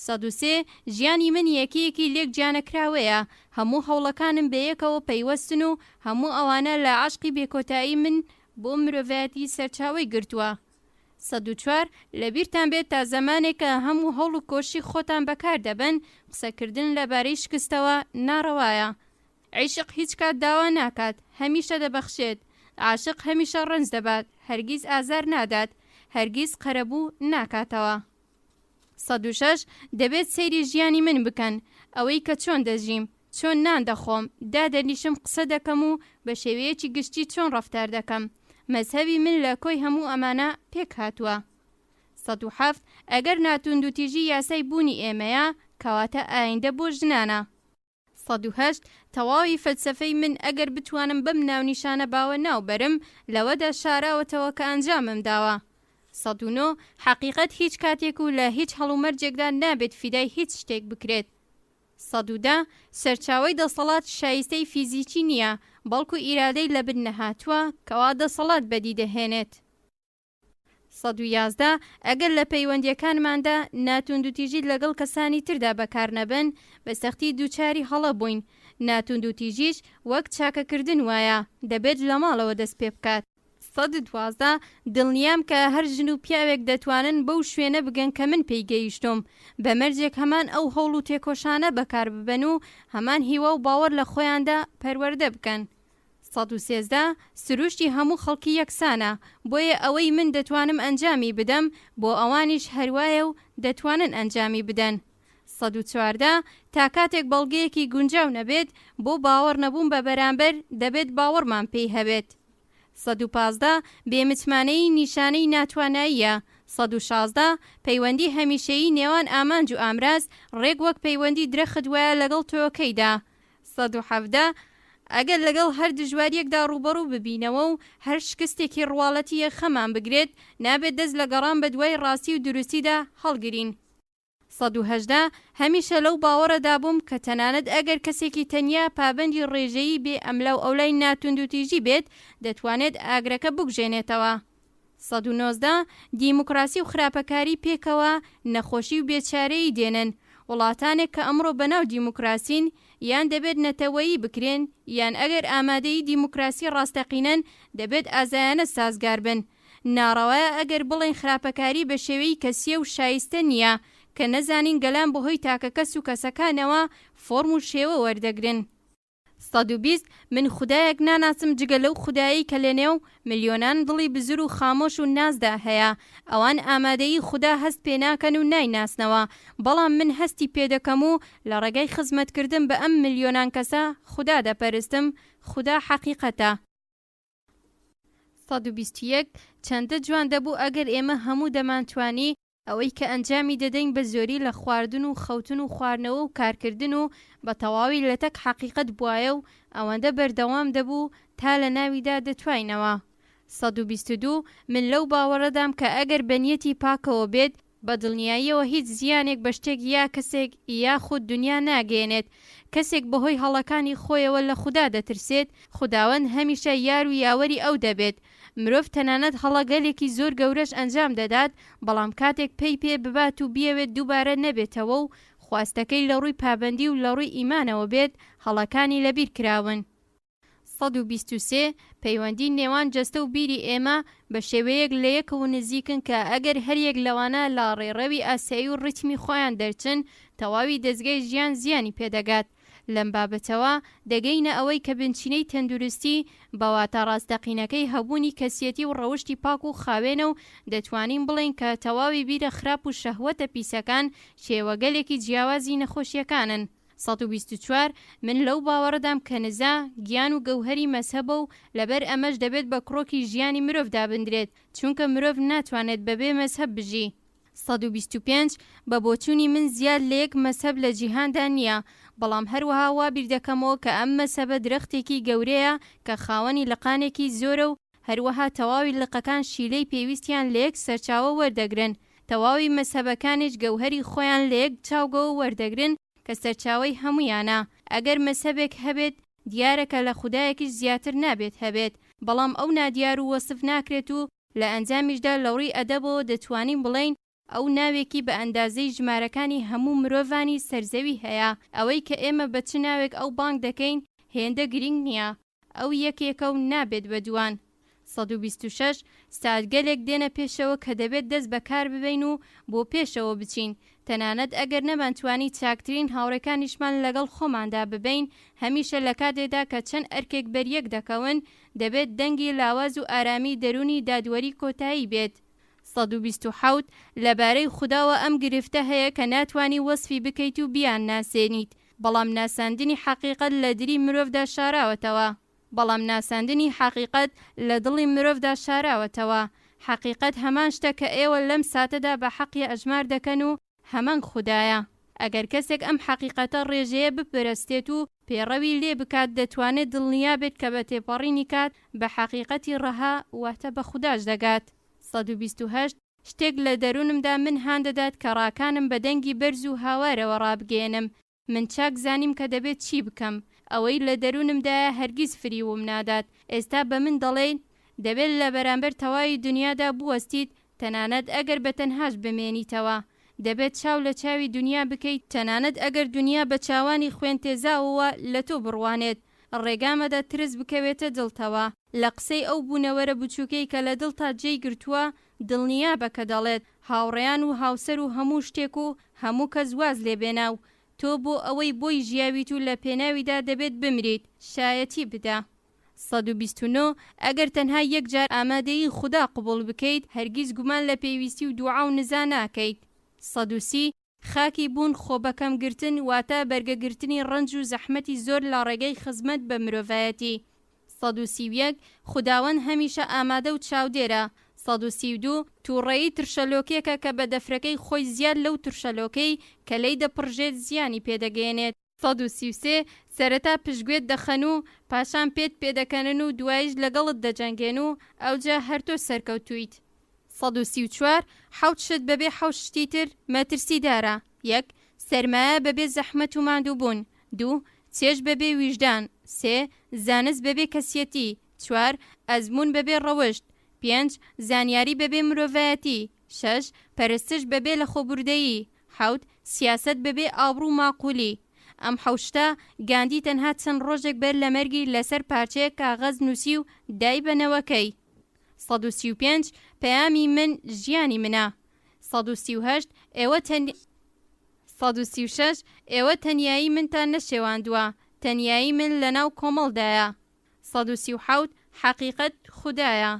سەد و سێ، ژیانی من یەکەیەکی لێک جیانەکراوەیە، هەموو هەوڵەکانم بەیەکەوە پەیوەستن و هەموو ئەوانە لە عەشقی بێکۆتایی من بۆ مرۆڤایەتی سەرچاوەی گرتووە. سەد و چوار، لەبیرتان بێت تا زەمانێکە هەموو هەوڵ و کۆششی خۆتان بەکار دەبەن، قسەکردن لەبارەی شکستەوە ناڕەوایە. عیشق هیچ کات داوا ناکات، هەمیشە دەبەخشێت. عاشق هەمیشە ڕەنج دەبات، هەرگیز ئازار نادات، هەرگیز قەرەبوو ناکاتەوە. سەد و شەش، دەبێت سەیری ژیانی من بکەن، ئەوەی کە چۆن دەژیم، چۆن نان دەخۆم، دادەنیشم قسە دەکەم و بە شێوەیەکی گشتی چۆن ڕەفتار دەکەم، مەزهەبی من لە کۆی هەموو ئەمانە پێک هاتووە. سەد و حەفت، ئەگەر ناتوندوتیژی یاسای بوونی ئێمەیە، کەواتە ئایندە بۆ ژنانە. سەد و هەشت، تەواوی فەلسەفەی من ئەگەر بتوانم بەم ناونیشانە باوە ناو بەرم، لەوەدا شاراوەتەوە کە ئەنجامم داوە. سەد و نۆ، حەقیقەت هیچ کاتێک و لە هیچ هەڵومەرجێکدا نابێت فیدای هیچ شتێک بکرێت. سەد و دە، سەرچاوەی دەسەڵات شایستەی فیزیکی نییە، بەڵکو ئیرادەی لەبن نەهاتووە کەوا دەسەڵات بەدی دەهێنێت. سەد و یازدە، ئەگەر لە پەیوەندییەکانماندا ناتوندوتیژی لەگەڵ کەسانی تردا بەکار نەبەن، بە سەختی دووچاری هەڵە بووین. ناتوندوتیژیش وەک چاکەکردن وایە، دەبێت لە ماڵەوە دەست پێ بکات. سەد و دوازدە، دڵنیام کە هەر ژن و پیاوێک دەتوانن بەو شوێنە بگەن کە من پێی گەیشتووم، بە مەرجێک هەمان ئەو هەوڵ و تێکۆشانە بەکار ببەن و هەمان هیوا و باوەڕ لە خۆیاندا پەروەردە بکەن. سەد و سێزدە، سروشتی هەموو خەڵکی یەکسانە، بۆیە ئەوەی من دەتوانم ئەنجامی بدەم، بۆ ئەوانیش هەروایە و دەتوانن ئەنجامی بدەن. سەد و چواردە، تا کاتێک بەڵگەیەکی گونجاو نەبێت بۆ باوەڕ نەبوون بە بەرامبەر، دەبێت باوەڕمان پێی هەبێت. سەد و پازدە، بێ متمانەیی نیشانەی ناتواناییە. سەد و شازدە، پەیوەندی هەمیشەیی نێوان ئامانج و ئامراز، ڕێک وەک پەیوەندی درەخت وایە لەگەڵ تۆوەکەیدا. سەد و حەڤدە، ئەگەر لەگەڵ هەر دژواریەکدا ڕووبەڕوو ببینەوە و هەر شکستێکی ڕواڵەتی یەخەمان بگرێت، نابێت دەست لە گەڕان بە دوای ڕاستی و دروستیدا هەڵگرین. سەد و هەژدە، هەمیشە لەو باوەڕەدا بووم کە تەنانەت ئەگەر کەسێکی تەنیا پابەندی ڕێژەیی بێ ئەملاوئەولای ناتوندوتیژی بێت، دەتوانێت ئاگرەکە بکوژێنێتەوە. سەد و نۆزدە، دیموکراسی و خراپەکاری پێکەوە نەخۆشی و بێچارەیی دێنن. وڵاتانێک کە ئەمڕۆ بەناو دیموکراسین، یان دەبێت نەتەوەیی بکرێن، یان ئەگەر ئامادەی دیموکراسی ڕاستەقینەن، دەبێت ئازایانە سازگار بن. ناڕەوایە ئەگەر بڵێین خراپەکاری بە شێوەیی کەسییە و شایستە نییە، کە نەزانین گەلان بەهۆی تاکەکەس و کەسەکانەوە فۆرم و شێوە وەردەگرن. سەد و بیست، من خودایەک ناناسم جگە لەو خودایەی کە لەنێو ملیۆنان دڵی بزر و خامۆش و نازدا هەیە. ئەوان ئامادەیی خودا هەست پێناکەن و نایناسنەوە، بەڵام من هەستی پێدەکەم و لە ڕێگای خزمەتکردن بە ئەم ملیۆنان کەسە خودا دەپەرستم، خودا حەقیقەتە. سەد و بیست و یەک، چەندە جوان دەبوو ئەگەر ئێمە هەموو دەمانتوانی ئەوەی کە ئەنجامی دەدەین بە زۆری لە خواردن و خەوتن و خواردنەوە و کارکردن و بە تەواوی لەتەک حەقیقەت بوایە و ئەوەندە بەردەوام دەبوو تا لە ناویدا دەتواینەوە سەد و بیست و دوو، من لەو باوەڕەدام کە ئەگەر بە نیەتی پاکەوە بێت، بە دڵنیاییەوە هیچ زیانێک بە شتێک یا کەسێک یاخود دونیا ناگەیەنێت، کەسێک بەهۆی هەڵەکانی خۆیەوە لە خودا دەترسێت، خوداوەند هەمیشە یار و یاوەری ئەو دەبێت، مرۆڤ تەنانەت هەڵەگەلێکی زۆر گەورەش ئەنجام دەدات، بەڵام کاتێک پەی پێ ببات و بیەوێت دووبارە نەبێتەوە و خواستەکەی لە ڕووی پابەندی و لە ڕووی ئیمانەوە بێت، هەڵەکانی لەبیر کراون. سەد و بیست و سێ، پەیوەندی نێوان جەستە و بیری ئێمە بە شێوەیەک لە یەکەوە نزیکن کە ئەگەر هەر یەک لەوانە لە ڕێڕەوی ئاسایی و ڕیتمی خۆیان دەرچن، تەواوی دەزگای ژیان زیانی پێ دەگات. لەم بابەتەوە دەگەینە ئەوەی کە بنچینەی تەندروستی بە واتا ڕاستەقینەکەی هەبوونی کەسیەتی و ڕەوشتی پاک و خاوێنە و دەتوانین بڵێین کە تەواوی بیرە خراپ و شەهوەتە پیسەکان شێوەگەلێکی جیاوازی نەخۆشیەکانن. سەد و بیست و چوار، من لەو باوەڕەدام کە نزا، گیان و گەوهەری مەزهەبە و لەبەر ئەمەش دەبێت بە کڕۆکی ژیانی مرۆڤ دابندرێت، چونکە مرۆڤ ناتوانێت بەبێ مەزهەب بژی. سەد و بیست و پێنج، بە بۆچوونی من زیاد لە یەک مەزهەب لە جیهاندا نییە، بەڵام هەروەها وا بیردەکەمەوە کە ئەم مەزهەبە درەختێکی گەورەیە کە خاوەنی لقانێکی زۆرە و، هەروەها تەواوی لقەکان شیلەی پێویستیان لە یەک سەرچاوە وەردەگرن، تەواوی مەزهەبەکانیش گەوهەری خۆیان لە یەک چاوگەوە وەردەگرن کە سەرچاوەی هەموویانە، ئەگەر مەزهەبێک هەبێت دیارە کە لە خودایەکیش زیاتر نابێت هەبێت، بەڵام ئەو نادیار و وەسف ناکرێت و لە ئەنجامیشدا لەوڕی ئەدەبەوە دەتوانین بڵێین ئەو ناوێکی بە ئەندازەی ژمارەکانی هەموو مرۆڤانی سەر زەوی هەیە، ئەوەی کە ئێمە بە چ ناوێک ئەو بانگ دەکەین هێندە گرینگ نییە، ئەو یەکێکە و نابێت بە دووان. سەد و بیست و شەش ساتگەلێک دێنە پێشەوە کە دەبێت دەست بە کار ببەین و بۆ پێشەوە بچین، تەنانەت ئەگەر نەمانتوانی چاکترین هاوڕێکانیشمان لەگەڵ خۆماندا ببەین، هەمیشە لە کاتێکدا کە چەند ئەرکێک بەریەک دەکەون، دەبێت دەنگی لاواز و ئارامی دەروونی دادوەری کۆتایی بێت. سەد و بیست و حەوت، لەبارەی خوداوە ئەم گرفتە هەیە کە ناتوانی وەسفی بکەیت و بیانناسێنیت، بەڵام ناساندنی حەقیقەت لە دری مرۆڤدا شاراوەتەوە، بەڵام ناساندنی حەقیقەت لە دڵی مرۆڤدا شاراوەتەوە، حەقیقەت هەمان شتە کە ئێوە لەم ساتەدا بە حەقی ئەژمار دەکەن و هەمان خودایە. ئەگەر کەسێک ئەم حەقیقەتە ڕێژەیە بپەرەستێت و پێڕەوی لێ بکات دەتوانێت دڵنیا بێت کە بە تێپەڕینی کات بە حەقیقەتی ڕەها واتە بە خوداش دەگات. سەد و بیست و هەشت، شتێک لە دەروونمدا من هان دەدات کە ڕاکانم بە دەنگی بەرز و هاوارەوە ڕابگەیەنم، من چاک زانیم کە دەبێت چی بکەم. ئەوەی لە دەروونمدایە هەرگیز فریووم نادات. ئێستا بە من دەڵێیت، دەبێت لە بەرامبەر تەواوی دونیادا بوەستیت، تەنانەت ئەگەر بە تەنهاش بمێنیتەوە. دەبێت چاو لە چاوی دونیا بکەیت، تەنانەت ئەگەر دونیا بە چاوانی خوێن تێزاوەوە لە تۆ بڕوانێت، ڕێگا مەدە ترس بکەوێتە دڵتەوە لە قسەی ئەو بوونەوەرە بچووکەی کە لە دڵتا جێی گرتووە، دڵنیابە کە دەڵێت هاوڕێیان و هاوسەر و هەموو شتێک و هەموو کەس واز لێ بێنا و تۆ بۆ ئەوەی بۆی ژیاویت و لە پێناویدا دەبێت بمریت شایەتی بدە. سەد و بیست و نۆ، ئەگەر تەنها یەک جار ئامادەیی خودا قبوڵ بکەیت، هەرگیز گومان لە پێویستی و دوعا و نزا ناکەیت. سەد و سی، خاکی بوون خۆ بەکەم گرتن واتە بەرگە گرتنی ڕەنج و زەحمەتی زۆر لە ڕێگەی خزمەت بە مرۆڤایەتی سەد و سی و یەک خوداوەند هەمیشە ئامادە و چاودێرە سەد و سی و دوو تووڕەیی ترشەلۆکێکە کە بە دەفرەکەی خۆی زیاد لەو ترشەلۆکەی کە لێی دەپڕژێت زیانی پێ دەگەیەنێت. سەد و سی و سێ، سەرەتا پشتگوێت دەخەن و پاشان پێت پێدەکەنن و دواییش لەگەڵت دەجەنگێن و ئەوجا هەر تۆ سەرکەوتوویت. سەد و سی و چوار، حەوت شت بەبێ حەوت شتی تر مەترسیدارە، یەک، سەرمایە بەبێ زەحمەت و ماندووبوون، دوو، چێژ بەبێ ویژدان، سێ، زانست بەبێ کەسیەتی، چوار، ئەزموون بەبێ ڕەوشت، پێنج، زانیاری بەبێ مرۆڤایەتی، شەش، پەرستش بەبێ لەخۆبوردەیی، حەوت، سیاسەت بەبێ ئابڕوو ماقوولی. ئەم حەوت شتە، گاندی تەنها چەند ڕۆژێک بەر لە مەرگی لەسەر پارچەیەک کاغەز نووسی و دای بە نەوەکەی. سەد و سی و پێنج، پەیامی من ژیانی منە. سەد و سی و هەشت، ئێوە تەن. سەد و سی و شەش، ئێوە تەنیایی منتان نەشێواندووە، تەنیایی من لەناو کۆمەڵدایە. سەد و سی و حەوت، حەقیقەت خودایە.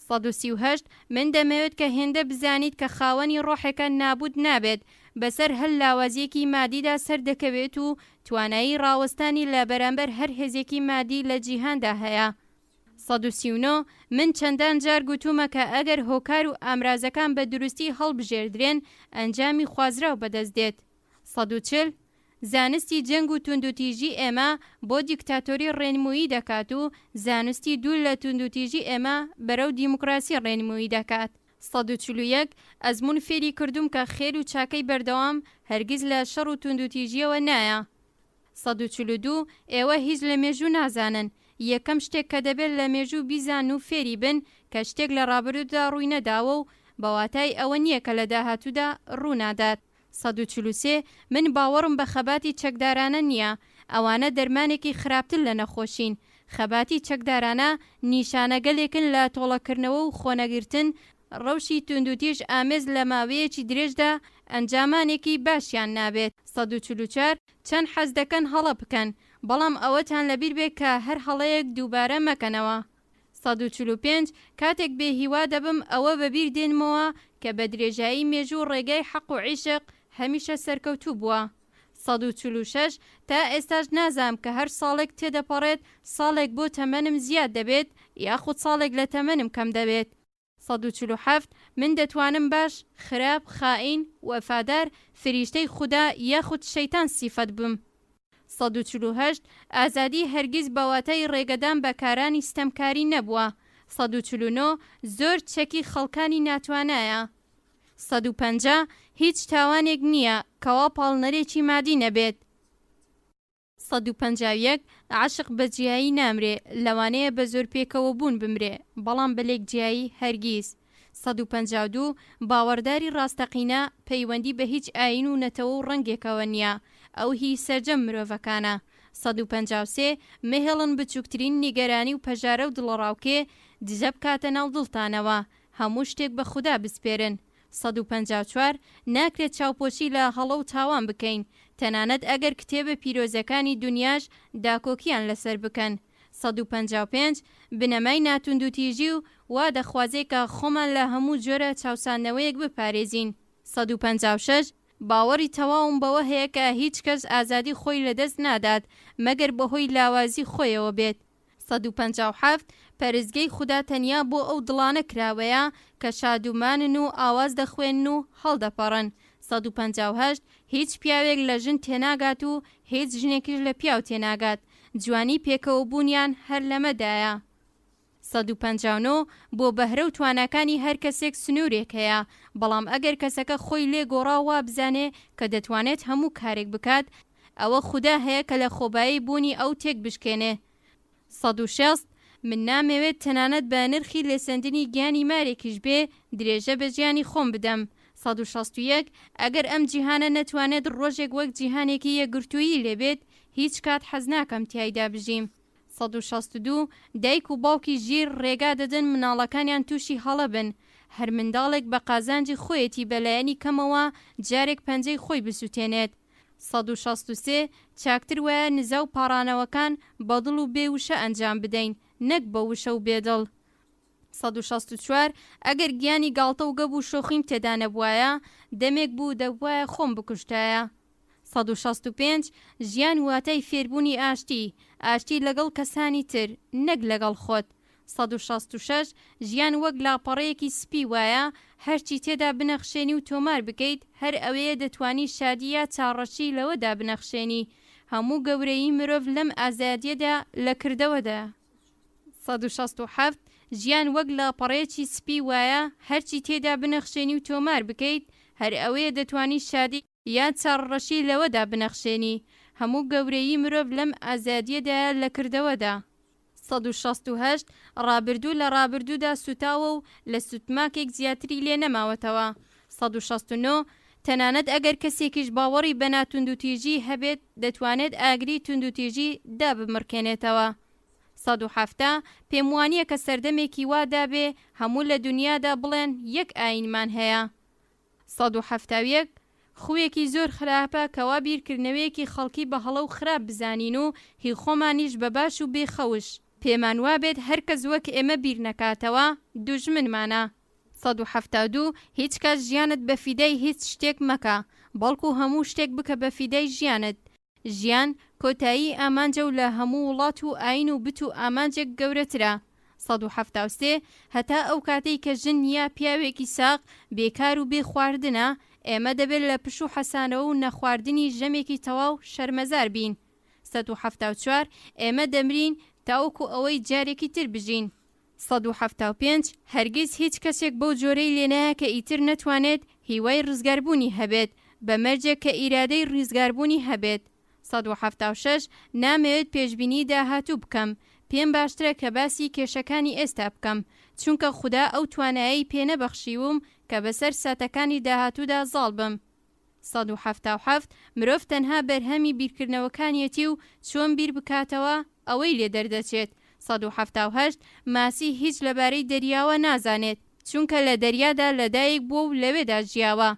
سەد و سی و هەشت، من دەمەوێت کە هێندە بزانیت کە خاوەنی ڕۆحێکە نابووت نابێت، بەسەر هەر لاوازییەکی مادیدا سەر دەکەوێت و توانایی ڕاوەستانی لە بەرامبەر هەر هێزێکی مادی لە جیهاندا هەیە. سەد و سی و نۆ، من چەندان جار گوتوومە کە ئەگەر هۆکار و ئامرازەکان بە دروستی هەڵبژێردرێن، ئەنجامی خوازراو بەدەست دێت. سەد و چل، زانستی جەنگ و توندوتیژی ئێمە بۆ دیکتاتۆری ڕێنموویی دەکات و زانستی دوور لە توندوتیژی ئێمە بەرەو دیموکراسی ڕێنموویی دەکات. سەد و چل و یەک، ئەزموون فێری کردووم کە خێر و چاکەی بەردەوام هەرگیز لە شەڕ و توندوتیژییەوە نایە. سەد و چل و دوو، ئێوە هیچ لە مێژوو نازانن، یەکەم شتێک کە دەبێت لە مێژوو بیزانن و فێری بن کە شتێک لە ڕابردوودا ڕووی نەداوە و بە واتای ئەوە نییە کە لە داهاتوودا ڕوو نادات. سەد و چل و سێ، من باوەڕم بە خەباتی چەکدارانە نییە، ئەوانە دەرمانێکی خراپتر لە نەخۆشین، خەباتی چەکدارانە نیشانەگەلێکن لە تۆڵەکردنەوە و خۆنەگرتن، ڕەوشی توندوتیژ ئامێز لە ماوەیەکی درێژدا ئەنجامانێکی باشیان نابێت. سەد و چل و چوار، چەند حەز دەکەن هەڵە بکەن، بەڵام ئەوەتان لەبیربێت کە هەر هەڵەیەک دووبارە مەکەنەوە. سەد و چل و پێنج، کاتێک بێ هیوا دەبم ئەوە بە بیر دێنمەوە کە بە درێژایی مێژوو ڕێگای حەق و عیشق هەمیشە سەرکەوتوو بووە. سەد و چل و شەش، تا ئێستاش نازام کە هەر ساڵێک تێدەپەڕێت ساڵێک بۆ تەمەنم زیاد دەبێت یاخود ساڵێک لە تەمەنم کەم دەبێت. سەد و چل و حەفت، من دەتوانم باش، خراپ، خائین، وەفادار، فریشتەی خودا یاخود شەیتان سیفەت بم. سەد و چل و هەشت، ئازادی هەرگیز بە واتای ڕێگەدان بە کارانی ستەمکاری نەبووە. سەد و چل و نۆ، زۆر چەکی خەڵکانی ناتوانایە. سەد و پەنجا، هیچ تاوانێک نییە کەوا پاڵنەرێکی مادی نەبێت. سەد و پەنجا و یەک، عەشق بە جیایی نامرێ، لەوانەیە بە زۆر پێکەوە بوون بمرێ، بەڵام بە لێک جیایی هەرگیز. سەد و پەنجا و دوو، باوەڕداری ڕاستەقینە، پەیوەندی بە هیچ ئایین و نەتەوە و ڕەنگێکەوە نییە، ئەو هیی سەرجەم مرۆڤەکانە. سەد و پەنجا و سێ، مەهێڵن بچووکترین نیگەرانی و پەژارە و دڵەڕاوکێ، دژە بکاتە ناو دڵتانەوە، هەموو شتێک بە خودا بسپێرن. سەد و پەنجا و چوار، ناکرێت چاوپۆشی لە هەڵە و تاوان بکەین، تەنانەت ئەگەر کتێبە پیرۆزەکانی دونیاش داکۆکییان لەسەر بکەن. سەد و پەنجا و پێنج، بنەمای ناتوندوتیژی و وا دەخوازێت کە خۆمان لە هەموو جۆرە چاوساندنەوەیەک بپارێزین. سەد و پەنجا و شەش، باوەڕی تەواوم بەوە هەیە کە هیچ کەس ئازادی خۆی لەدەست نادات مەگەر بەهۆی لاوازی خۆیەوە بێت. سەد و پەنجا و حەفت، پەرستگەی خودا تەنیا بۆ ئەو دڵانە کراوەیە کە شادومانن و ئاواز دەخوێنن و هەڵدەپەڕن. سەد و پەنجا و هەشت، هیچ پیاوێک لە ژن تێناگات و هیچ ژنێکیش لە پیاو تێناگات، جوانیی پێکەوەبوونیان هەر لەمەدایە. سەد و پەنجا و نۆ، بۆ بەهرە و تواناکانی هەر کەسێک سنوورێک هەیە، بەڵام ئەگەر کەسەکە خۆی لێ گۆڕا و وابزانێ کە دەتوانێت هەموو کارێک بکات، ئەوە خودا هەیە کە لە خۆبایی بوونی ئەو تێک بشکێنێ. سەد و شەست، من نامەوێت تەنانەت بە نرخی لێسەندنی گیانی مارێکیش بێ، درێژە بە ژیانی خۆم بدەم. سەد و شەست و یەک، ئەگەر ئەم جیهانە نەتوانێت ڕۆژێک وەک جیهانێکی یەکگرتوویی لێ بێت، هیچ کات حەز ناکەم تیایدا بژیم. سەد و شەست و دوو، دایک و باوکی ژیر ڕێگا دەدەن منداڵەکانیان تووشی هەڵە بن. هەر منداڵێک بە قازانجی خۆیەتی بە لایەنی کەمەوە جارێک پەنجەی خۆی بسووتێنێت. سەد و شەست و سێ، چاکتر وایە نزا و پاڕانەوەکان بە دڵ و بێ وشە ئەنجام بدەین، نەک بە وشە و بێ دڵ. سەد و شەست و چوار، ئەگەر گیانی گاڵتە و گەب و شۆخیم تێدا نەبوایە، دەمێک بوو دەبوایە خۆم بکوشتایە. سەد و شەست و پێنج، ژیان واتای فێربوونی ئاشتی، ئاشتی لەگەڵ کەسانی تر، نەک لەگەڵ خۆت. سەد و شەست و شەش، ژیان وەک لاپەڕەیەکی سپی وایە، هەرچی تێدا بنەخشێنی و تۆمار بکەیت، هەر ئەوەیە دەتوانی شادی یا چاڕەشی لەوەدا بنەخشێنی. هەموو گەورەیی مرۆڤ لەم ئازادییەدا لە کردەوەدایە. سەد و شەست و حەفت، ژیان وەک لاپەڕەیەکی سپی وایە، هەرچی تێدا بنەخشێنی و تۆمار بکەیت، هەر ئەوەیە دەتوانی شادی. یان چاڕڕەشی لەوەدا بنەخشێنی هەموو گەورەیی مرۆڤ لەم ئازادییەدایە لە کردەوەدا. سەد و شەست و هەشت، ڕابردوو لە ڕابردوودا سووتاوە و لە سوتماکێک زیاتری لێ نەماوەتەوە. سەد و شەست و نۆ، تەنانەت ئەگەر کەسێکیش باوەڕی بە ناتوندوتیژی هەبێت، دەتوانێت ئاگری توندوتیژی دابمڕکێنێتەوە. سەد و حەفتا، پێم وانییە کە سەردەمێکی وا دابێ هەموو لە دونیادا بڵێن یەک ئایینمان هەیە. سەد و حەفتا و یەک، خوویەکی زۆر خراپە کە وا بیرکردنەوەیەکی خەڵکی بە هەڵە و خراپ بزانین و هی خۆمانیش بە باش و بێ خەوش، پێمان وابێت هەر کەس وەک ئێمە بیر نەکاتەوە، دوژمنمانە. سەد و حەفتا و دوو، هیچ کات ژیانت بە فیدای هیچ شتێک مەکە، بەڵکو هەموو شتێک بکە بە فیدای ژیانت، ژیان کۆتایی ئامانجە و لە هەموو وڵات و ئایین و بت و ئامانجێک گەورەترە. سەد و حەفتا و سێ، هەتا ئەو کاتەی کە ژن یا پیاوێکی ساغ بێ کار و بێ خواردنە، ئێمە دەبێت لە پش و حەسانەوە و نەخواردنی ژەمێکی تەواو شەرمەزار بین. سەد و حەفتا و چوار، ئێمە دەمرین تاوەکو ئەوەی جارێکی تر بژین. سەد و حەفتا و پێنج، هەرگیز هیچ کەسێک بەو جۆرەی لێ نایە کە ئیتر نەتوانێت هیوای ڕزگاربوونی هەبێت، بە مەرجێک کە ئیرادەی ڕیزگاربوونی هەبێت. سەد و حەفتا و شەش، نامەوێت پێشبینیی داهاتوو بکەم، پێم باشترە کە باسی کێشەکانی ئێستا بکەم، چونکە خودا ئەو توانایەی پێ نەبەخشیووم کە بەسەر ساتەکانی داهاتوودا زاڵ بم. سەد و حەفتا و حەفت، مرۆڤ تەنها بەرهەمی بیرکردنەوەکانیەتی و چۆن بیر بکاتەوە ئەوەی لێ دەردەچێت. سەد و حەفتا و هەشت، ماسی هیچ لەبارەی دەریاوە نازانێت، چونکە لە دەریادا لەدایک بووە و لەوێدا ژیاوە،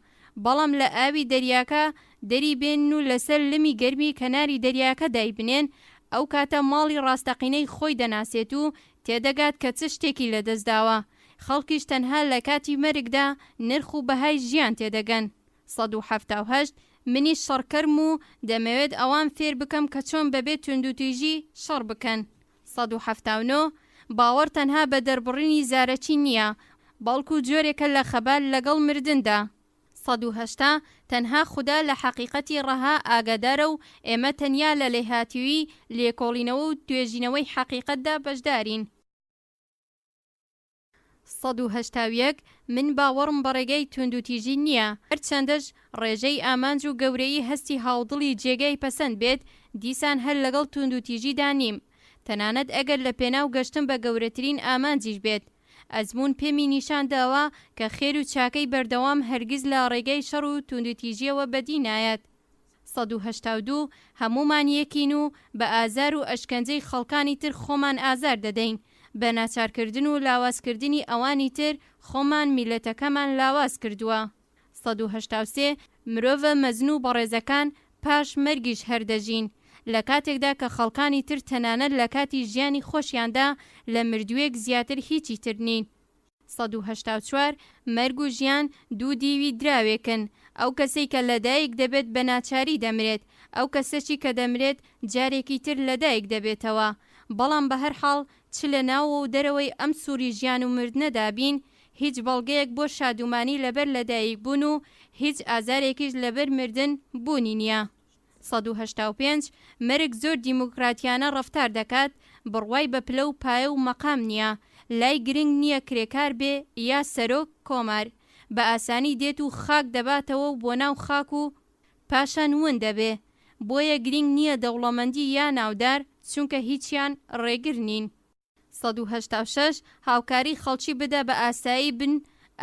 بەڵام لە ئاوی دەریاکە دەری بێنن و لەسەر لمی گەرمی کەناری دەریاکە دایبنێن، ئەو کاتە ماڵی ڕاستەقینەی خۆی دەناسێت و تێدەگات کە چ شتێکی لەدەستداوە. خەڵکیش تەنها لە کاتی مەرگدا نرخ و بەهای ژیان تێدەگەن. سەد و حەفتا و هەشت، منیش شەڕکەرم و دەمەوێت ئەوان فێر بکەم کە چۆن بەبێ توندوتیژی شەڕ بکەن. سەد و حەفتا و نۆ، باوەڕ تەنها بە دەربڕینی زارەکی نییە، بەڵکو جۆرێکە لە خەبات لەگەڵ مردندا. سەد و هەشتا، تەنها خودا لە حەقیقەتی ڕەها ئاگادارە و ئێمە تەنیا لە لێهاتوویی، لێکۆڵینەوە و توێژینەوەی حەقیقەتدا بەشدارین. سەد و هەشتا و یەک، من باوەڕم بە ڕێگای توندوتیژی نییە، هەرچەندەش ڕێژەی ئامانج و گەورەیی هەستی هاودڵی جێگای پەسەند بێت، دیسان هەر لەگەڵ توندوتیژیدا نیم، تەنانەت ئەگەر لە پێناو گەشتن بە گەورەترین ئامانجیش بێت. ئەزموون پێمی نیشان داوە کە خێر و چاکەی بەردەوام هەرگیز لە ڕێگای شەڕ و توندوتیژییەوە بەدی نایەت. سەد و هەشتا و دوو، هەموومان یەکین و بە ئازار و ئەشکەنجەی خەڵکانی تر خۆمان ئازار دەدەین، بە ناچارکردن و لاوازکردنی ئەوانی تر خۆمان میللەتەکەمان لاواز کردووە. سەد و هەشتا و سێ، مرۆڤە مەزن و بەڕێزەکان پاش مەرگیش هەر دەژین، لە کاتێکدا کە خەڵکانی تر تەنانەت لە کاتی ژیانی خۆشیاندا لە مردووێک زیاتر هیچی تر نین. سەد و هەشتا و چوار، مەرگ و ژیان دوو دیوی دراوێکن، ئەو کەسەی کە لەدایک دەبێت بە ناچاری دەمرێت، ئەو کەسەچی کە دەمرێت جارێکی تر لەدایک دەبێتەوە، بەڵام بەهەرحاڵ چ لە ناوەوە و دەرەوەی ئەم سووری ژیان و مردنەدا بین، هیچ بەڵگەیەک بۆ شادومانی لەبەر لەدایکبوون و هیچ ئازارێکیش لەبەر مردن بوونی نییە. سەد و هەشتا و پێنج، مەرگ زۆر دیموکراتیانە ڕەفتار دەکات، بڕوای بە پلە و پایە و مەقام نییە، لای گرنگ نییە کرێکار بێ یا سەرۆک کۆمار، بە ئاسانی دێت و خاک دەباتەوە و بۆ ناو خاک و پاشان ون دەبێ، بۆیە گرینگ نییە دەوڵەمەندی یا ناودار، چونکە هیچیان ڕێگر نین. سەد و هەشتا و شەش، هاوکاری خەڵکی بدە بە ئاسایی بن،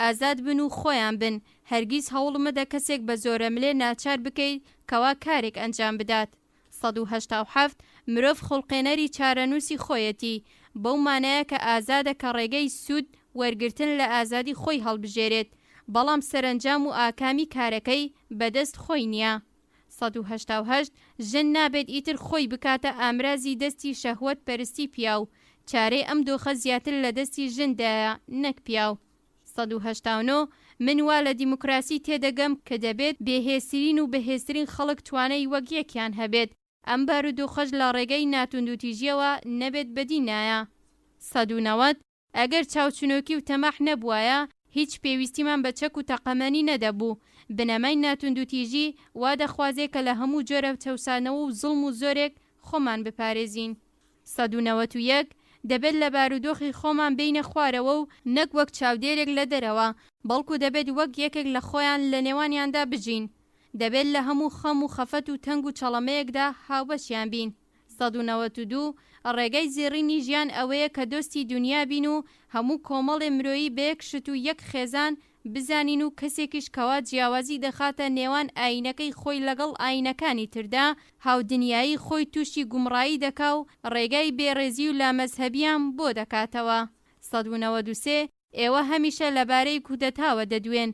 ئازاد بن و خۆیان بن، هەرگیز هەوڵ مەدە کەسێک بە زۆرەملێ ناچار بکەیت کەوا کارێک ئەنجام بدات. سەد و هەشتا و حەفت، مرۆڤ خوڵقێنەری چارەنووسی خۆیەتی، بەو مانایە کە ئازادە کە ڕێگەی سوود وەرگرتن لە ئازادی خۆی هەڵبژێرێت، بەڵام سەرەنجام و ئاکامی کارەکەی بەدەست خۆی نییە. سەد و هەشتا و هەشت، ژن نابێت ئیتر خۆی بکاتە ئامرازی دەستی شەهوەت پەرستی پیاو، چارەی ئەم دۆخە زیاتر لە دەستی ژن دایە نەک پیاو. سەد و هەشتا و نۆ، من وا لە دیموکراسی تێدەگەم کە دەبێت بێ هێزترین و بەهێزترین خەڵک توانای وەک یەکیان هەبێت، ئەم بارودۆخەش لە ڕێگەی ناتوندوتیژیەوە نەبێت بەدی نایە. سەد و نەوەد، ئەگەر چاوچنۆکی و تەماح نەبوایە، هیچ پێویستیمان بە چەک و تەقەمەنی نەدەبوو. بنەمای ناتوندوتیژی وا دەخوازێ کە لە هەموو جۆرە چەوسانەوە و زوڵم و زۆرێک خۆمان بپارێزین. سەد و نەوەت و یەک، دەبێت لە بارودۆخی خۆمان بێینە خوارەوە و نەک وەک چاودێرێک لە دەرەوە، بەڵکو دەبێت وەک یەکێک لە خۆیان لە نێوانیاندا بژین. دەبێت لە هەموو خەم و خەفەت و تەنگ و چەڵەمەیەکدا هاوبەشیان بین. سەد و نەوەد و دوو، ڕێگای زێڕینی ژیان ئەوەیە کە دۆستی دونیا بین و هەموو کۆمەڵێ مرۆیی بە یەک شت و یەک خێزان بزانین و کەسێکیش کەوا جیاوازی دەخاتە نێوان ئایینەکەی خۆی لەگەڵ ئایینەکانی تردا هاودنیایی خۆی تووشی گومڕایی دەکا و ڕێگای بێڕێزی و لامەزهەبیان بۆ دەکاتەوە سەد و نەوەد و سێ، ئێوە هەمیشە لەبارەی کودەتاوە دەدوێن،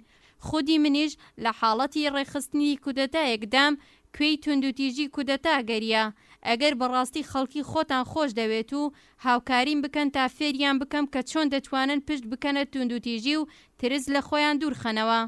خودی منیش لە حاڵەتی ڕێکخستنی کودەتایەکدام، کوێی توندوتیژی کودەتا گەریا، ئەگەر بەڕاستی خەڵکی خۆتان خۆش دەوێت و هاوکاریم بکەن تا فێریان بکەم کە چۆن دەتوانن پشت بکەنە توندوتیژی و ترس لە خۆیان دوورخەنەوە.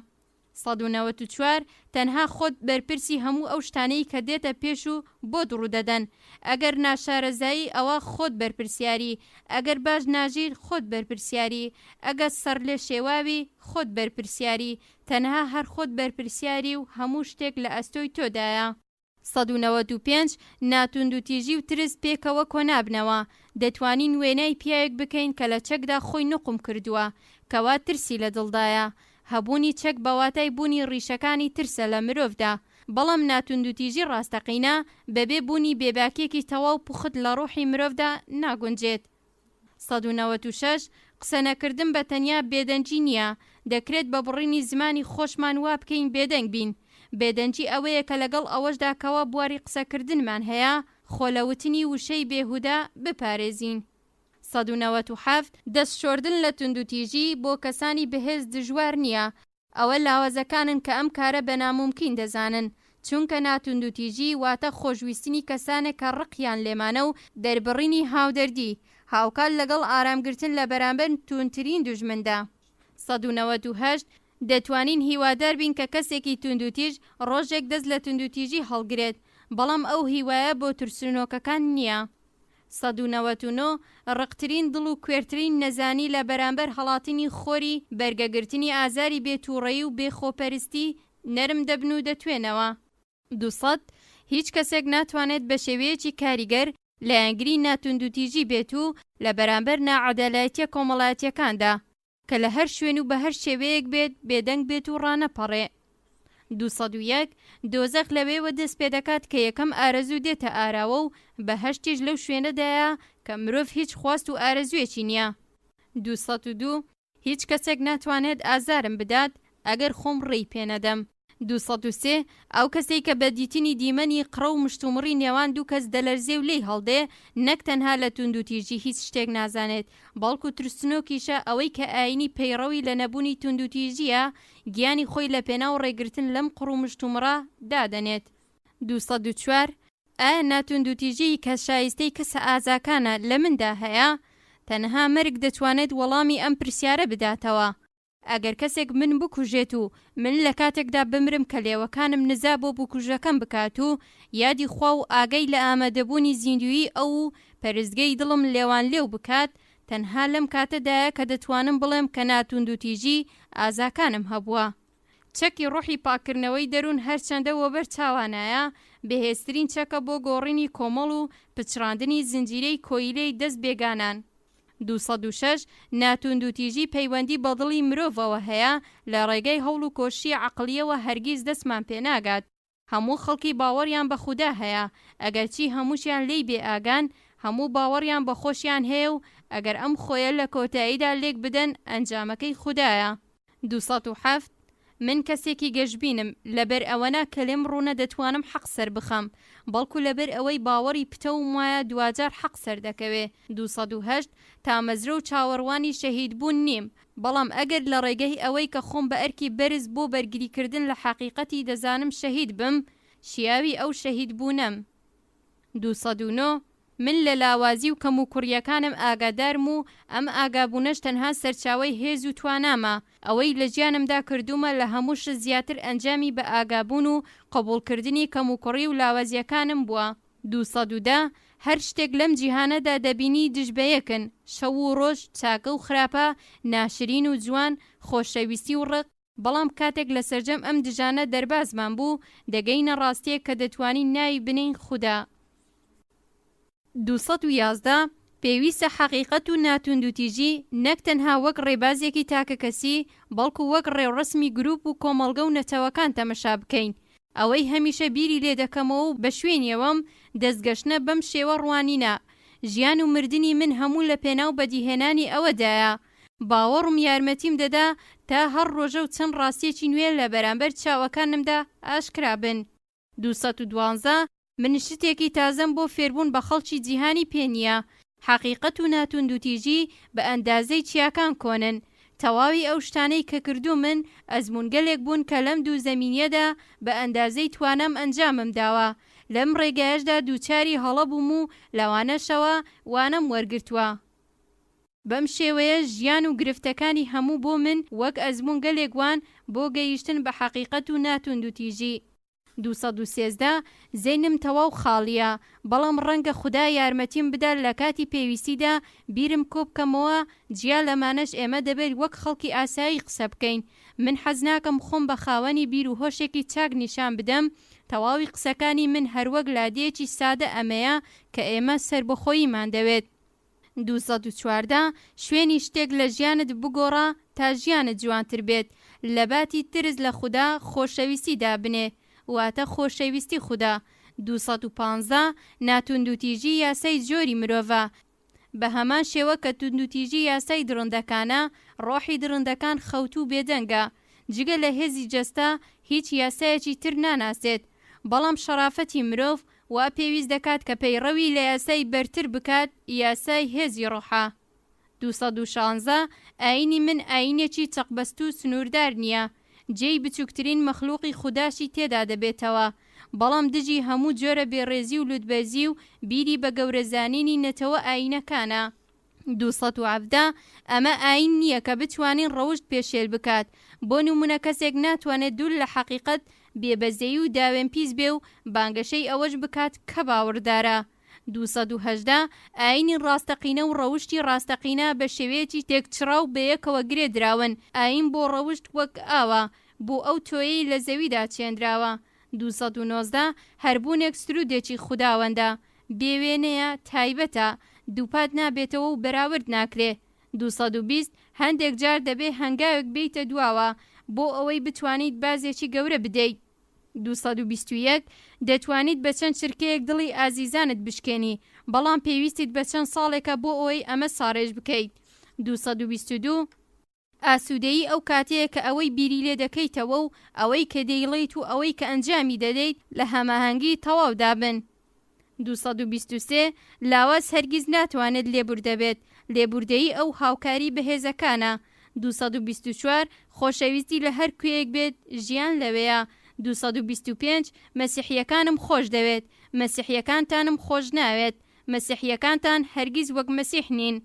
سەد و نەوەت و چوار، تەنها خۆت بەرپرسی هەموو ئەو شتانەی کە دێتە پێش و بۆت ڕوودەدەن. ئەگەر ناشارەزایی ئەوا خۆت بەرپرسیاری، ئەگەر باش ناژیت خۆت بەرپرسیاری، ئەگە سەڕلێشێواوی خۆت بەرپرسیاری، تەنها هەر خۆت بەرپرسیاری و هەموو شتێک لە ئەستۆی تۆدایە. سەد و نەوەد و پێنج، ناتوندوتیژی و ترس پێکەوە کۆنابنەوە، دەتوانین وێنای پیاوێک بکەین کە لە چەکدا خۆی نوقم کردووە، کەوا ترسی لە دڵدایە. هەبوونی چەک بە واتای بوونی ڕیشەکانی ترسە لە مرۆڤدا. بەڵام ناتوندوتیژی ڕاستەقینە بەبێ بوونی بێباکییەکی تەواو پوخت لە ڕوحی مرۆڤدا ناگونجێت. سەد و نەوەد و شەش، قسەنەکردن بە تەنیا بێدەنگی نییە، دەکرێت بە بڕینی زمانی خۆشمان وا بکەین بێدەنگ بین. بێدەنگی ئەوەیە کە لەگەڵ ئەوەشدا کەوا بواری قسەکردنمان هەیە، خۆ لە وتنی وشەی بێهودە بپارێزین. سەد و نەوەد و حەفت، دەست شۆردن لە توندوتیژی بۆ کەسانی بەهێز دژوار نییە، ئەوە لاوازەکانن کە ئەم کارە بە نامومکین دەزانن، چونکە ناتوندوتیژی واتە خۆشویستنی کەسانێک کە ڕقیان لێمانە و دەربڕینی هاودەردی، هاوکات لەگەڵ ئارامگرتن لە بەرامبەر توندترین دوژمندا. سەد و نەوەد و هەشت، دەتوانین هیوادار بین کە کەسێکی توندوتیژ ڕۆژێک دەست لە توندوتیژی هەڵگرێت، بەڵام ئەو هیوایە بۆ ترسنۆکەکان نییە. سەد و نەوەت و نۆ، ڕقترین دڵ و کوێرترین نەزانی لە بەرامبەر هەڵاتنی خۆری بەرگەگرتنی ئازاری بێ تووڕەیی و بێ خۆپەرستی، نەرم دەبن و دەتوێنەوە. دوو سەد، هیچ کەسێک ناتوانێت بە شێوەیەکی کاریگەر لایەنگری ناتوندوتیژی بێت و لە بەرامبەر ناعەدالایتیە کۆمەڵایەتیەکاندا، کە لە هەر شوێن و بە هەر شێوەیەک بێت، بێدەنگ بێت و ڕانەپەڕێ. دوو سەد و یەک، دۆزەخ لەوێوە دەست پێ دەکات کە یەکەم ئارەزوو دێتە ئاراوە و بەهەشتیش لەو شوێنەدایە کە مرۆڤ هیچ خواست و ئارەزوویەکی نییە. دوو سەد و دوو، هیچ کەسێک ناتوانێت ئازارم بدات، ئەگەر خۆم ڕێی پێ نەدەم. دوو سەد و سێ، ئەو کەسەی کە بە دیتنی دیمەنی قڕە و مشتومڕی نێوان دوو کەس دەلەرزێ و لێی هەڵدێ، نەک تەنها لە توندوتیژی هیچ شتێک نازانێت، بەڵکو ترسنۆکیشە، ئەوەی کە ئایینی پەیڕەوی لە نەبونی توندوتیژییە، گیانی خۆی لە پێناو ڕێگرتن لەم قڕ و مشتومڕە دادەنێت. دوو سەد و چوار، ئایا ناتوندوتیژیی کە شایستەی کەسە ئازاکانە، لە مندا هەیە؟ تەنها مەرگ دەتوانێت وەڵامی ئەم پرسیارە بداتەوە. ئەگەر کەسێک من بکوژێت و من لە کاتێکدا بمرم کە لێوەکانم نزا بۆ بکوژەکەم بکات و یادی خوا و ئاگای لە ئامادەبوونی زیندوویی ئەو و پەرستگەی دڵم لێوانلێو بکات، تەنها لەم کاتەدایە کە دەتوانم بڵێم کە نا توندوتیژی ئازاکانم هەبووە. چەکی ڕۆحی پاککردنەوەی دەروون هەرچەندە وەبەر چاوانایە، بەهێزترین چەکە بۆ گۆڕینی کۆمەڵ و پچڕاندنی زنجیرەی کۆیلەی دەست بێگانان. دوو سەد و شەش، نا توندوتیژی پەیوەندی بە دڵی مرۆڤەوە هەیە، لە ڕێگای هەوڵ و کۆششی عەقڵییەوە هەرگیز دەستمان پێ ناگات. هەموو خەڵکی باوەڕیان بە خودا هەیە، ئەگەرچی هەمووشیان لێی بێ ئاگان، هەموو باوەڕیان بە خۆشیان هەیە و ئەگەر ئەم خۆیە لە کۆتاییدا لێک بدەن، ئەنجامەکەی خودایە. دوو سەد و حەفت، من کەسێکی گەشبینم، لەبەر ئەوەنا کە لێم ڕوونە دەتوانم حەق سەربخەم، بەڵکو لەبەر ئەوەی باوەڕی پتەوم وایە دواجار حەق سەردەکەوێ. دوو سەد و هەشت، تامەزرۆ و چاوەڕوانی شەهیدبوون نیم، بەڵام ئەگەر لە ڕێگەی ئەوەی کە خۆم بە ئەرکی بەرز بۆ بەرگریکردن لە حەقیقەتی دەزانم شەهیدبم، شیاوی ئەو شەهیدبوونەم. دوو سەد و نۆ، من لە لاوازی و کەموکوڕییەکانم ئاگادارم و ئەم ئاگابوونەش تەنها سەرچاوەی هێز و توانامە، ئەوەی لە ژیانمدا کردوومە لە هەموو شت زیاتر ئەنجامی بەئاگابوون و قبوڵکردنی کەموکوڕی و لاوازییەکانم بووە. دوو سەد و دە، هەر شتێک لەم جیهانەدا دەبینی دژ بە یەکن، شەو و ڕۆژ، چاکە و خراپە، ناشرین و جوان، خۆشەویستی و ڕق، بەڵام کاتێک لە سەرجەم ئەم دژانە دەربازمان بوو، دەگەینە ڕاستییەک کە دەتوانین ناوی بنێین خودا. دوو سەد و یازدە، پێویستە حەقیقەت و ناتوندوتیژی نەک تەنها وەک ڕێبازێکی تاکەکەسی، بەڵکو وەک ڕێوڕەسمی گروپ و کۆمەڵگە و نەتەوەکان تەمەشا بکەین. ئەوەی هەمیشە بیری لێ دەکەمەوە و بە شوێنیەوەم، دەستگەشتنە بەم شێوە ڕوانینە، ژیان و مردنی من هەموو لەپێناو بەدیهێنانی ئەوەدایە، باوەڕم یارمەتیم دەدا تا هەر ڕۆژە و چەند ڕاستییەکی نوێ لە بەرامبەر چاوەکانمدا ئاشکرا بن. دوو سەد و دوازدە، من شتێکی تازەم بۆ فێربوون بە خەڵکی جیهانی پێ نییە. حەقیقەت و ناتوندوتیژی بە ئەندازەی چیاکان کۆنن. تەواوی ئەو شتانەی کە کردوومن ئەزموونگەلێک بوون کە لەم دوو زەمینەدا بە ئەندازەی توانام ئەنجامم داوە. لەم ڕێگایەشدا دووچاری هەڵە بووم و لەوانەشەوە وانەم وەرگرتووە. بەم شێوەیە ژیان و گرفتەکانی هەموو بۆ من وەک ئەزموونگەلێک وان بۆ گەیشتن بە حەقیقەت و نا توندوتیژی. دوو سەد و سێزدە، زەینم تەواو خاڵییە، بەڵام ڕەنگە خودا یارمەتیم بدا لە کاتی پێویستیدا بیرم کۆبکەمەوە، جیا لەمانەش ئێمە دەبێت وەک خەڵکی ئاسایی قسە بکەین، من حەز ناکەم خۆم بە خاوەنی بیر و هۆشێکی چاک نیشان بدەم، تەواوی قسەکانی من هەروەک لادێیەکی سادە ئەمەیە کە ئێمە سەربەخۆییمان دەوێت. دوو سەد و چواردە، شوێنی شتێک لە ژیانت بگۆڕە تا ژیانت جوانتر بێت، لەباتی ترس لە خودا خۆشەویستی دابنێ، واتە خۆشەویستی خودا. دوو سەد و پانزە، ناتوندوتیژی یاسای جۆری مرۆڤە، بە هەمان شێوە کە توندوتیژی یاسای دڕندەکانە، ڕۆحی دڕندەکان خەوتوو و بێدەنگە، جگە لە هێزی جەستە هیچ یاسایەکی تر ناناسێت، بەڵام شەڕافەتی مرۆڤ وا پێویست دەکات کە پەیڕەوی لە یاسای بەرتر بکات، یاسای هێزی ڕۆحە. دوو سەد و شانزە، ئایینی من ئایینێکی چەقبەستوو و سنووردار نییە، جێی بچووکترین مەخلووقی خوداشی تێدا دەبێتەوە، بەڵام دژی هەموو جۆرە بێڕێزی و لووتبەرزی و بیری بە گەورەزانینی نەتەوە ئایینەکانە. دوو سەد و حەڤدە، ئەمە ئایین نییە کە بتوانین ڕەوشت پێشێل بکات، بۆ نموونە کەسێک ناتوانێت دوور لە حەقیقەت، بێبەزەیی و داوێنپیس بێ و بانگەشەی ئەوەش بکات کە باوەڕدارە. دوو سەد و هەژدە، ئایینی ڕاستەقینە و ڕەوشتی ڕاستەقینە بە شێوەیەکی تێکچڕاو بەیەکەوە گرێ دراون، ئایین بۆ ڕەوشت وەک ئاوە بۆ ئەو تۆیەی لە زەویدا چێنراوە. دوو سەد و نۆزدە، هەر بوونێک سروودێکی خوداوەندە، بێ وێنەیە، تایبەتە، دووپات نابێتەوە و بەراورد ناکرێ. دوو سەد و بیست، هەندێک جار دەبێ هەنگاوێک بێیتە دواوە بۆ ئەوەی بتوانیت بازێکی گەورە بدەیت. دوو سەد و بیست و یەک، دەتوانیت بە چەند چرکەیەک دڵی ئازیزانت بشکێنی، بەڵام پێویستیت بە چەند ساڵێکە بۆ ئەوەی ئەمە ساڕێژ بکەیت. دوو سەد و بیست و دوو. ئاسوودەیی ئەو کاتەیە کە ئەوەی بیری لێ دەکەیتەوە و ئەوەی کە دەیڵێیت و ئەوەی کە ئەنجامی دەدەیت لە هەماهەنگیی تەواودا بن. دوو سەد و بیست و سێ، لاواز هەرگیز ناتوانێت لێبوردە بێت، لێبوردەیی ئەو هاوکاریی بەهێزەکانە. دوو سەد و بیست و چوار، خۆشەویستی لە هەر کوێیەک بێت، ژیان لەوێیە. دوو سەد و بیست و پێنج، مەسیحییەکانم خۆش دەوێت، مەسیحییەکانتانم خۆش ناوێت. مەسیحییەکانتان هەرگیز وەک مەسیح نین.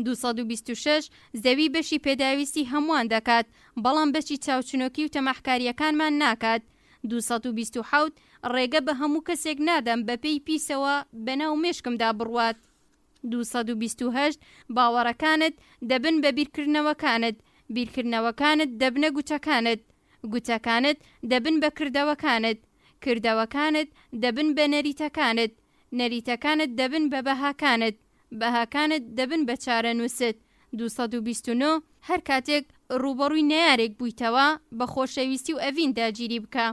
دوو سەد و بیست و شەش، زەوی بەشی پێداویستی هەمووان دەکات، بەڵام بەشی چاوچنۆکی و تەماحکارییەکانمان ناکات. دوو سەد و بیست و حەوت، ڕێگە بە هەموو کەسێک نادەم بە پێی پیسەوە بە ناو مێشکمدا بڕوات. دوو سەد و بیست و هەشت، باوەڕەکانت دەبن بە بیرکردنەوەکانت، بیرکردنەوەکانت دەبنە گوتەکانت، گوتەکانت دەبن بە کردەوەکانت، کردەوەکانت دەبن بە نەریتەکانت، نەریتەکانت دەبن بە بەهاکانت. بەهاکانت دەبن بە چارەنووست. دوو سەد و بیست و نۆ، هەر کاتێک ڕووبەڕووی نەیارێک بوویتەوە، بە خۆشەویستی و ئەڤین داگیری بکە.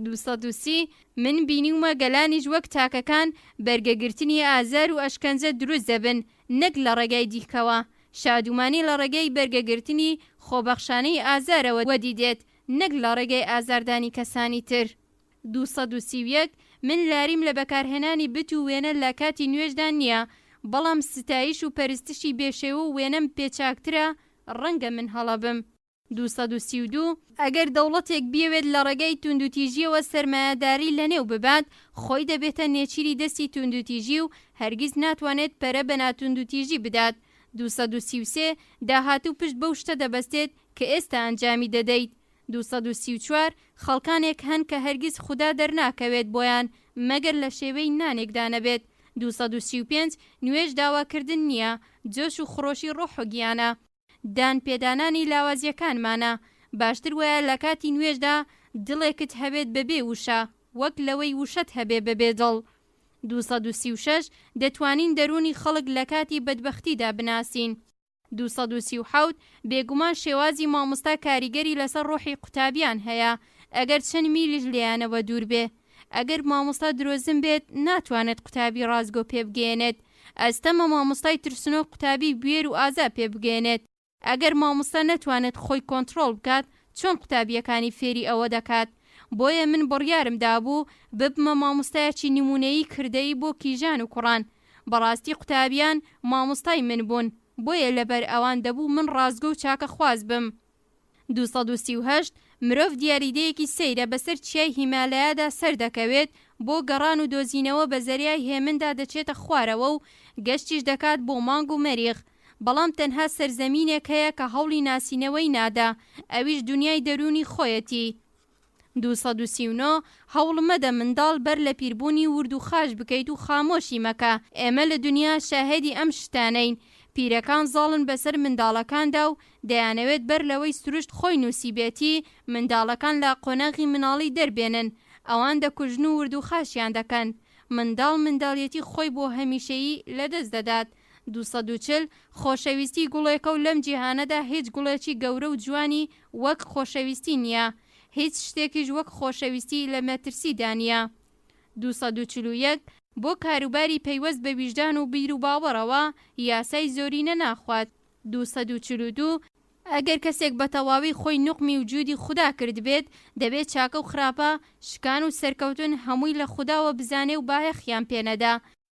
دوو سەد و سی، من بینیومە گەلانیش وەک تاکەکان، بەرگەگرتنی ئازار و ئەشکەنجە دروست دەبن، نەک لە ڕێگای دیلکەوە. شادومانی لە ڕێگەی بەرگەگرتنی خۆبەخشانەی ئازارەوە وەدی دێت، نەک لە ڕێگەی ئازاردانی کەسانی تر. دوو سەد و سی و یەک، من لاریم لە بەکارهێنانی بت و وێنە لە کاتی نوێژدا نییە، بەڵام ستایش و پەرستشی بێ شێوە و وێنەم پێ چاکترە، ڕەنگە من هەڵە بم. دوو سەد و سی و دوو، ئەگەر دەوڵەتێک بیەوێت لە ڕێگای توندوتیژییەوە سەرمایەداری لەنێو ببات، خۆی دەبێتە نێچیری دەستی توندوتیژی و هەرگیز ناتوانێت پەرە بە ناتوندوتیژی بدات. دوو سەد و سی و سێ، داهاتوو پشت بەو شتە دەبەستێت کە ئێستا ئەنجامی دەدەیت. دوو سەد و سی و چوار، خەڵکانێک هەن کە هەرگیز خودا دەرناکەوێت بۆیان مەگەر لە شێوەی نانێکدا نەبێت. دوو سەد و سی و پێنج، نوێژ داواکردن نییە، جۆش و خڕۆشی ڕۆح و گیانە. دان پێدانانی لاوازییەکانمانە. باشتر وایە لە کاتی نوێژدا دڵێکت هەبێت بەبێ وشە، وەک لەوەی وشەت هەبێ بەبێ دڵ. دوو سەد و سی و شەش، دەتوانین دەروونی خەڵک لە کاتی بەدبەختیدا بناسین. دوو سەد و سی و حەوت، بێگومان شێوازی مامۆستا کاریگەری لەسەر ڕۆحی قوتابیان هەیە، ئەگەر چەند میلیش لێیانەوە دوور بێ. ئەگەر مامۆستا درۆزن بێت، ناتوانێت قوتابی ڕاستگۆ پێ بگەیەنێت. ئەستەمە مامۆستای ترسنۆک قوتابی بوێر و ئازا پێ بگەیەنێت. ئەگەر مامۆستا نەتوانێت خۆی کۆنتڕۆڵ بکات، چۆن قوتابییەکانی فێری ئەوە دەکات؟ بۆیە من بڕیارم دابوو، ببمە مامۆستایەکی نموونەیی کردەیی بۆ کیژان و کوڕان. بەڕاستی قوتابیان مامۆستای من بوون بۆیە لەبەر ئەوان دەبوو من ڕاستگۆ و چاکە خواز بم. دوو سەد و سی و هەشت، مرۆڤ دیاریدەیەکی سەیرە بەسەر چیای هیمالایا-دا سەر دەکەوێت بۆ گەڕان و دۆزینەوە بە زەریای هێمن-دا دەچێتە خوارەوە و گەشتیش دەکات بۆ مانگ و مەریخ بەڵام تەنها سەرزەمینێک هەیە کە هەوڵی ناسینەوەی نادا ئەویش دونیای دەروونی خۆیەتی دوو سەد و سی و نۆ، هەوڵ مەدە منداڵ بەر لە پیربوونی ورد و خاش بکەیت و خامۆشی مەکە، ئێمە لە دنیا شاهێدی ئەم شتانەین، پیرەکان زاڵن بەسەر منداڵەکاندا و دەیانەوێت بەر لەوەی سروشت خۆی نووسیبێتی منداڵەکان لە قۆناغی مناڵی دەربێنن، ئەوان دەکوژن و ورد و خاشیان دەکەن، منداڵ منداڵیەتی خۆی بۆ هەمیشەیی لەدەست دەدات. دوو سەد و چل، خۆشەویستی گوڵێکە و لەم جیهانەدا هیچ گوڵێکی گەورە و جوانی وەک خۆشەویستی نیە. هیچ شتێکیش وەک خۆشەویستی لە مەترسی دا نیە. دوو سەد و چل و یەک، بۆ کاروباری پەیوەست بە ویژدان و بیر و باوەڕەوە، یاسای زۆرینە ناخوات. دوو سەد و چل و دوو، ئەگەر کەسێک بە تەواوی خۆی نوقمی وجودی خودا کردبێت، دەبێ چاکە و خراپە، شکان و سەرکەوتن هەمووی لە خوداوە بزانێ و بایەخیان پێ نەدا.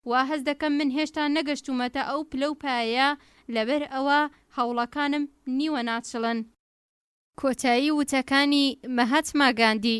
وا هەست دەکەم من هێشتا نەگەشتوومەتە ئەو پلە و پایەیە، لەبەر ئەوە هەوڵەکانم نیوە ناچڵن. کۆتایی وتەکانی، مەهاتما گاندی.